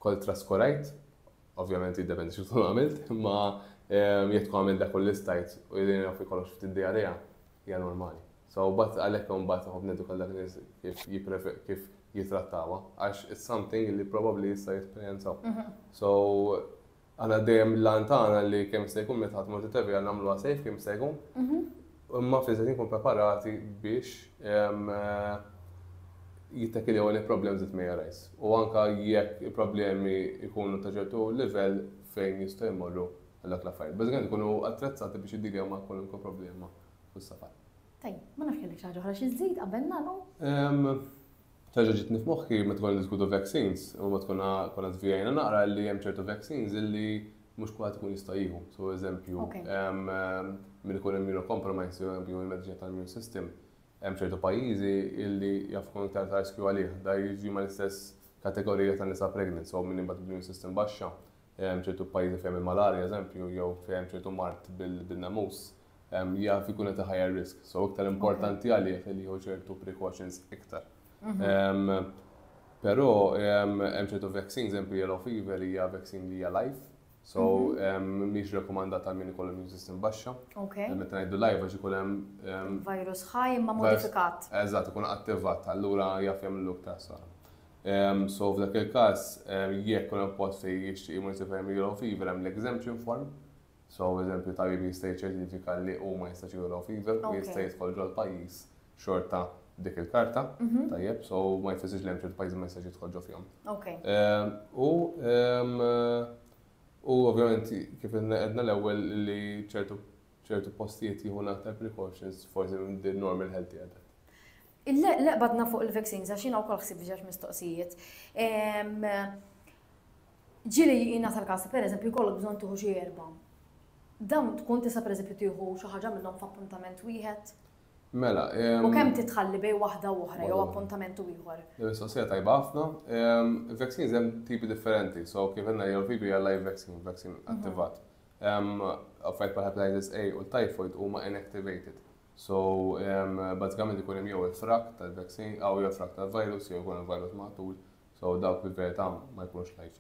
kont traskurajt Ovvjament jiddependi xi tkun għamilt, imma jekk tkun għamilt dak kollu li stajt u jien naf li kollox ftit diarrea, hija normali. So mbagħad għalhekk imbagħad noqgħod neduka lil dak in-nies kif kif jittrattawha għax it's something li probabbli jista' jesperjenzaw. So aħna dejjem l-għan tagħna li kemm jista' jkun meta ħadd imur it-TTV nagħmluha safe kemm jista' jkun. Imma fl-istess ħin ikunu preparati biex jittakiljaw any problems that may arise u anke jekk il-problemi jkunu ta' ċertu livell fejn jistgħu jmorru għal dawk l-affarijiet. Bażikament ikunu attrezzati biex jiddiljaw ma' kwalunkwe problema fis-safar. Tajjeb, ma nafx kellek xi ħaġa oħra xi żżid qabel nagħlqu? Terġa' ġietni f'moħħi meta konna niddiskutu vaccines u meta konna konna żvijajna naqra illi hemm ċertu vaccines illi mhux kulħadd ikun jista' jieħu. So eżempju, min ikun immunocompromised jew hemm il-mediċina tal-immune system, hemm ċertu pajjiżi illi jaf ikun iktar ta' riskju għalih. Da jiġi mal-istess kategorija ta' nisa pregnant, so min imbagħad immune system baxxa, hemm ċertu pajjiżi fejn il-malarja eżempju jew fejn hemm ċertu mard bil-namus. jaf ikun qed higher risk. So iktar importanti għalih li jieħu ċertu precautions iktar. Mhm. Però hemm ċertu vaccines, eżempju yellow fever hija vaccine li hija live. So mhm. mhix rekomandata minn ikollu immune system baxxa. Meta ngħidu live għax ikun hemm virus ħaj imma modifikat. Eżatt, ikun attivat, allura jaf jagħmlu iktar sara. So f'dak il-każ jekk kun post fejn jixtieq immunity fever hemm l-exemption form So eżempju tajjeb jista' jiċċertifika li hu ma jistax jieħu low fever u jista' jidħol ġol pajjiż xorta dik il-karta, mhm. tajjeb, so ma jfissirx li hemm ċertu pajjiż ma jistax jidħol ġo fihom. Ehm, u ehm, u ovvjament kif għedna l-ewwel li ċertu ċertu postijiet jieħu aktar precautions forsi minn din normal healthy għadha. Leqbadna fuq il-vaccines, għax jina u kol xsib ġax mistoqsijiet. Ġieli jingħata l-każ li pereżempju jkollok bżonn tieħu xi erbgħa. Dawn tkun tista' pereżempju tieħu xi ħaġa minnhom f'appuntament wieħed? Mela. U kemm titħalli bejn waħda u oħra jew appuntament u ieħor? Mistoqsija tajba ħafna. Vaccines hemm tipi differenti, so kif għandna jew tipi hija live vaccine, vaccine mhm. attivat. Affajt bħal hepatitis A u l-typhoid huma inactivated. So, bazzikament ikun hemm jew il-frak tal-vaccine, jew il-frak tal-virus, jew ikun il-virus maħtul. So dawk li verita ma jkunux live.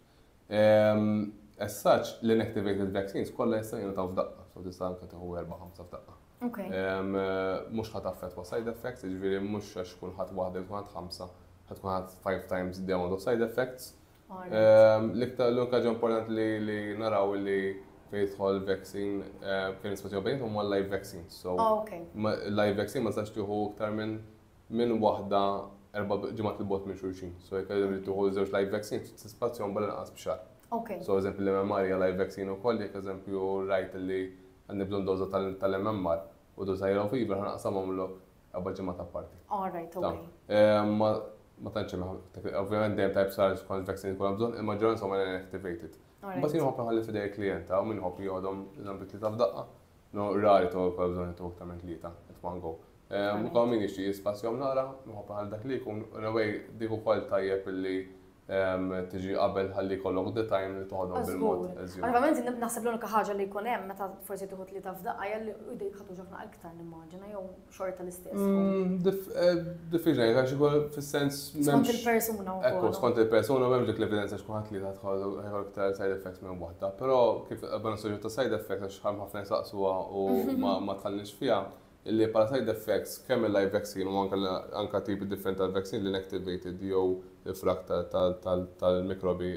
As such, l-inactivated vaccines kollha jista' jingħataw f'daqqa, so tista' anke tieħu erba' ħamsa f'daqqa. Mhux ħadd affettwa side effects, jiġifieri mhux għax tkun ħadd waħda jew tkun ħadd ħamsa, ħadd tkun ħadd five times the amount of side effects. L-iktar l-unika ġa importanti li naraw li fejn jidħol vaccine fejn nisfaċċew bejn huma live vaccines. So live vaccine ma tistax tieħu iktar minn minn waħda erba' ġimgħat 'il bogħod minn xulxin. So jekk eżempju tieħu żewġ live vaccine trid tispazjahom bħal inqas b'xahar. So eżempju l-MMR hija live vaccine ukoll jekk eżempju rajt li għandi bżonn doża tal-MMR u doża ta' yellow fever ħa naqsamhomlok erba' ġimgħat apparti. Ma tantx hemm, ovvjament dejjem tajjeb tara x'kont vaccine ikollhom bżonn, il-maġġoranza huma l-inactivated. Imbagħad jien nħobb inħalli f'idejn il-klijent, hawn min iħobb joħodhom eżempju tlieta f'daqqa, No, rari ta' għol bżon jittu iktar minn tlieta, it one go. Ehm, u min jixti jispazjom naqra, nħob għal dak li jkun, u nawaj diku kol tajjeb li ehm, tiġi qabel ħalli kollok the time li toħodhom bil-mod. Għalvament, naħseb l-unika ħaġa li jkun hemm meta forsi tieħu tlieta f'daqqa jalli u dik ħatu ġafna iktar nimmaġina jew xorta l-istess. Mm, Diffiċli, għax ikun fis-sens. Skont il-persuna u. Ekku, skont il-persuna u dik l-evidenza xkuħat li tħollu ħajħol iktar side effects minn waħda. Però kif għabban soġġu ta' side effects għax ħam ħafna jisaqsuha u ma tħallix fija, illi pala side effects kemm il-live vaccine u anka tipi different tal-vaccine li inactivated jew il-frak tal-mikrobi,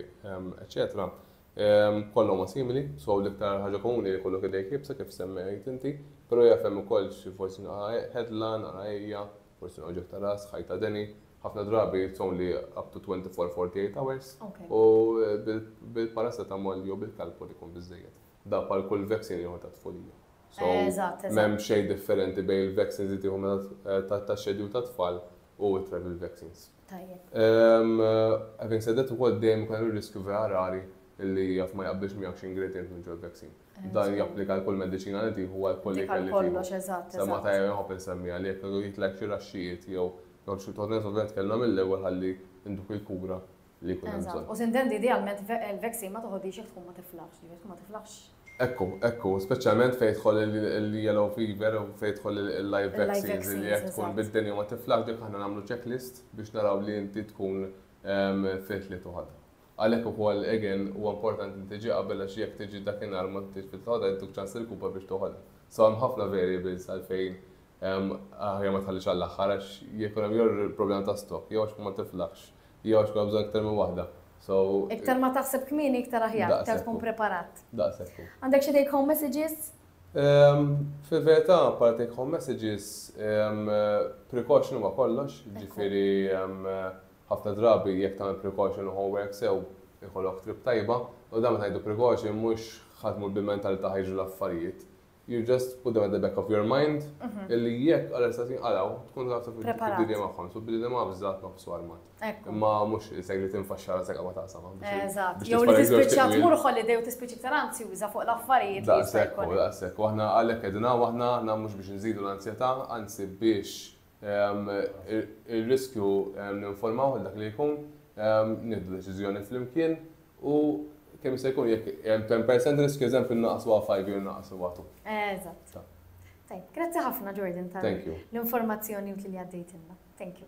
eccetera Kollha huma simili, so l-iktar ħaġa komuni li jkollok idejk iebsa kif semmejt inti, pero jaf hemm ukoll xi forsi naqra ħedla, naqra għejja, forsi noġieħ ta' ras, ħajt ta' deni, ħafna drabi it's only up to 24, 48 hours u bil-paracetamol jew bil-calpol ikun biżżejjed. Dan bħal kull vaccine ieħor tat-tfulija. So m'hemm xejn differenti bejn il-vaccines li tieħu meta taxxedi u tat-tfal u t-travel vaccines. tajjeb. Having said that, ukoll dejjem ikun hemm ir-riskju vera rari li jaf ma jaqbilx miegħek xi ingredjent minn ġol vaccine. Dan japplika għal kull mediċina li tieħu għal kull ikel li tieħu. Semma tajjeb inħobb insemmija li jekk għadu jitlek xi raxxijiet jew jgħod xi togħdnet ovvjament kellna mill-ewwel ħalli nduk il-kura li jkun hemm bżonn. U sintendi idealment il-vaccine ma toħodhiex jekk tkun ma tiflaħx, jekk tkun ma tiflaħx. Ekku, ekku, speċjalment fejn jidħol il-yellow fever u fejn jidħol il-live vaccines li jekk tkun bid-dinja u ma tiflax dik aħna nagħmlu checklist biex naraw li inti tkun fit li tuħodha. Għalhekk ukoll again huwa importanti li tiġi qabel għax jekk tiġi dakinhar u ma intix fit li toħodha jittuk ċans irkupa biex toħodha. So hemm ħafna variables għalfejn aħjar ma tħallix għall-aħħar għax jekk ikun hemm jew problema ta' stock jew għax ma tiflax Jgħoġ klawżola iktar minn waħda. So. Iktar ma taħseb kmieni iktar aħjar, iktar Daqshekk tkun hu. preparat. Daqshekk hu. Għandek xi take home messages? Ehm, Fil-verità, bħala take home messages, ehm, precaution huwa kollox, jiġifieri ehm, ħafna drabi jekk tagħmel precaution u homework sew ikollok trip tajba, u dan meta ngħidu precaution mhux ħa tmur bil-mentalità ħa jiġru l-affarijiet. You just put them at the back of your mind, illi jekk għal estat jinqalaw, tkun taf taf id-dinja magħhom, so billi ma bżat nofsu armat. Imma mhux isek li tinfaxxara sekka ma taqsam. Eżatt, jew li tispiċċa tmur holiday u tispiċċa iktar anzjuża fuq l-affarijiet. Daqshekk, daqshekk, u aħna għalhekk qegħdin hawn aħna biex nżidu l-anzjetà, anzi biex ir-riskju ninformawh għal dak li jkun, nieħdu deċiżjoni flimkien u kemm jista' jkun jekk hemm 10% riskju eżempju nnaqqsu għal 5 jew nnaqqsu għal 2. Eżatt. Tajjeb, grazzi ħafna Jordan tal-informazzjoni utli li għaddejtilna. Thank you.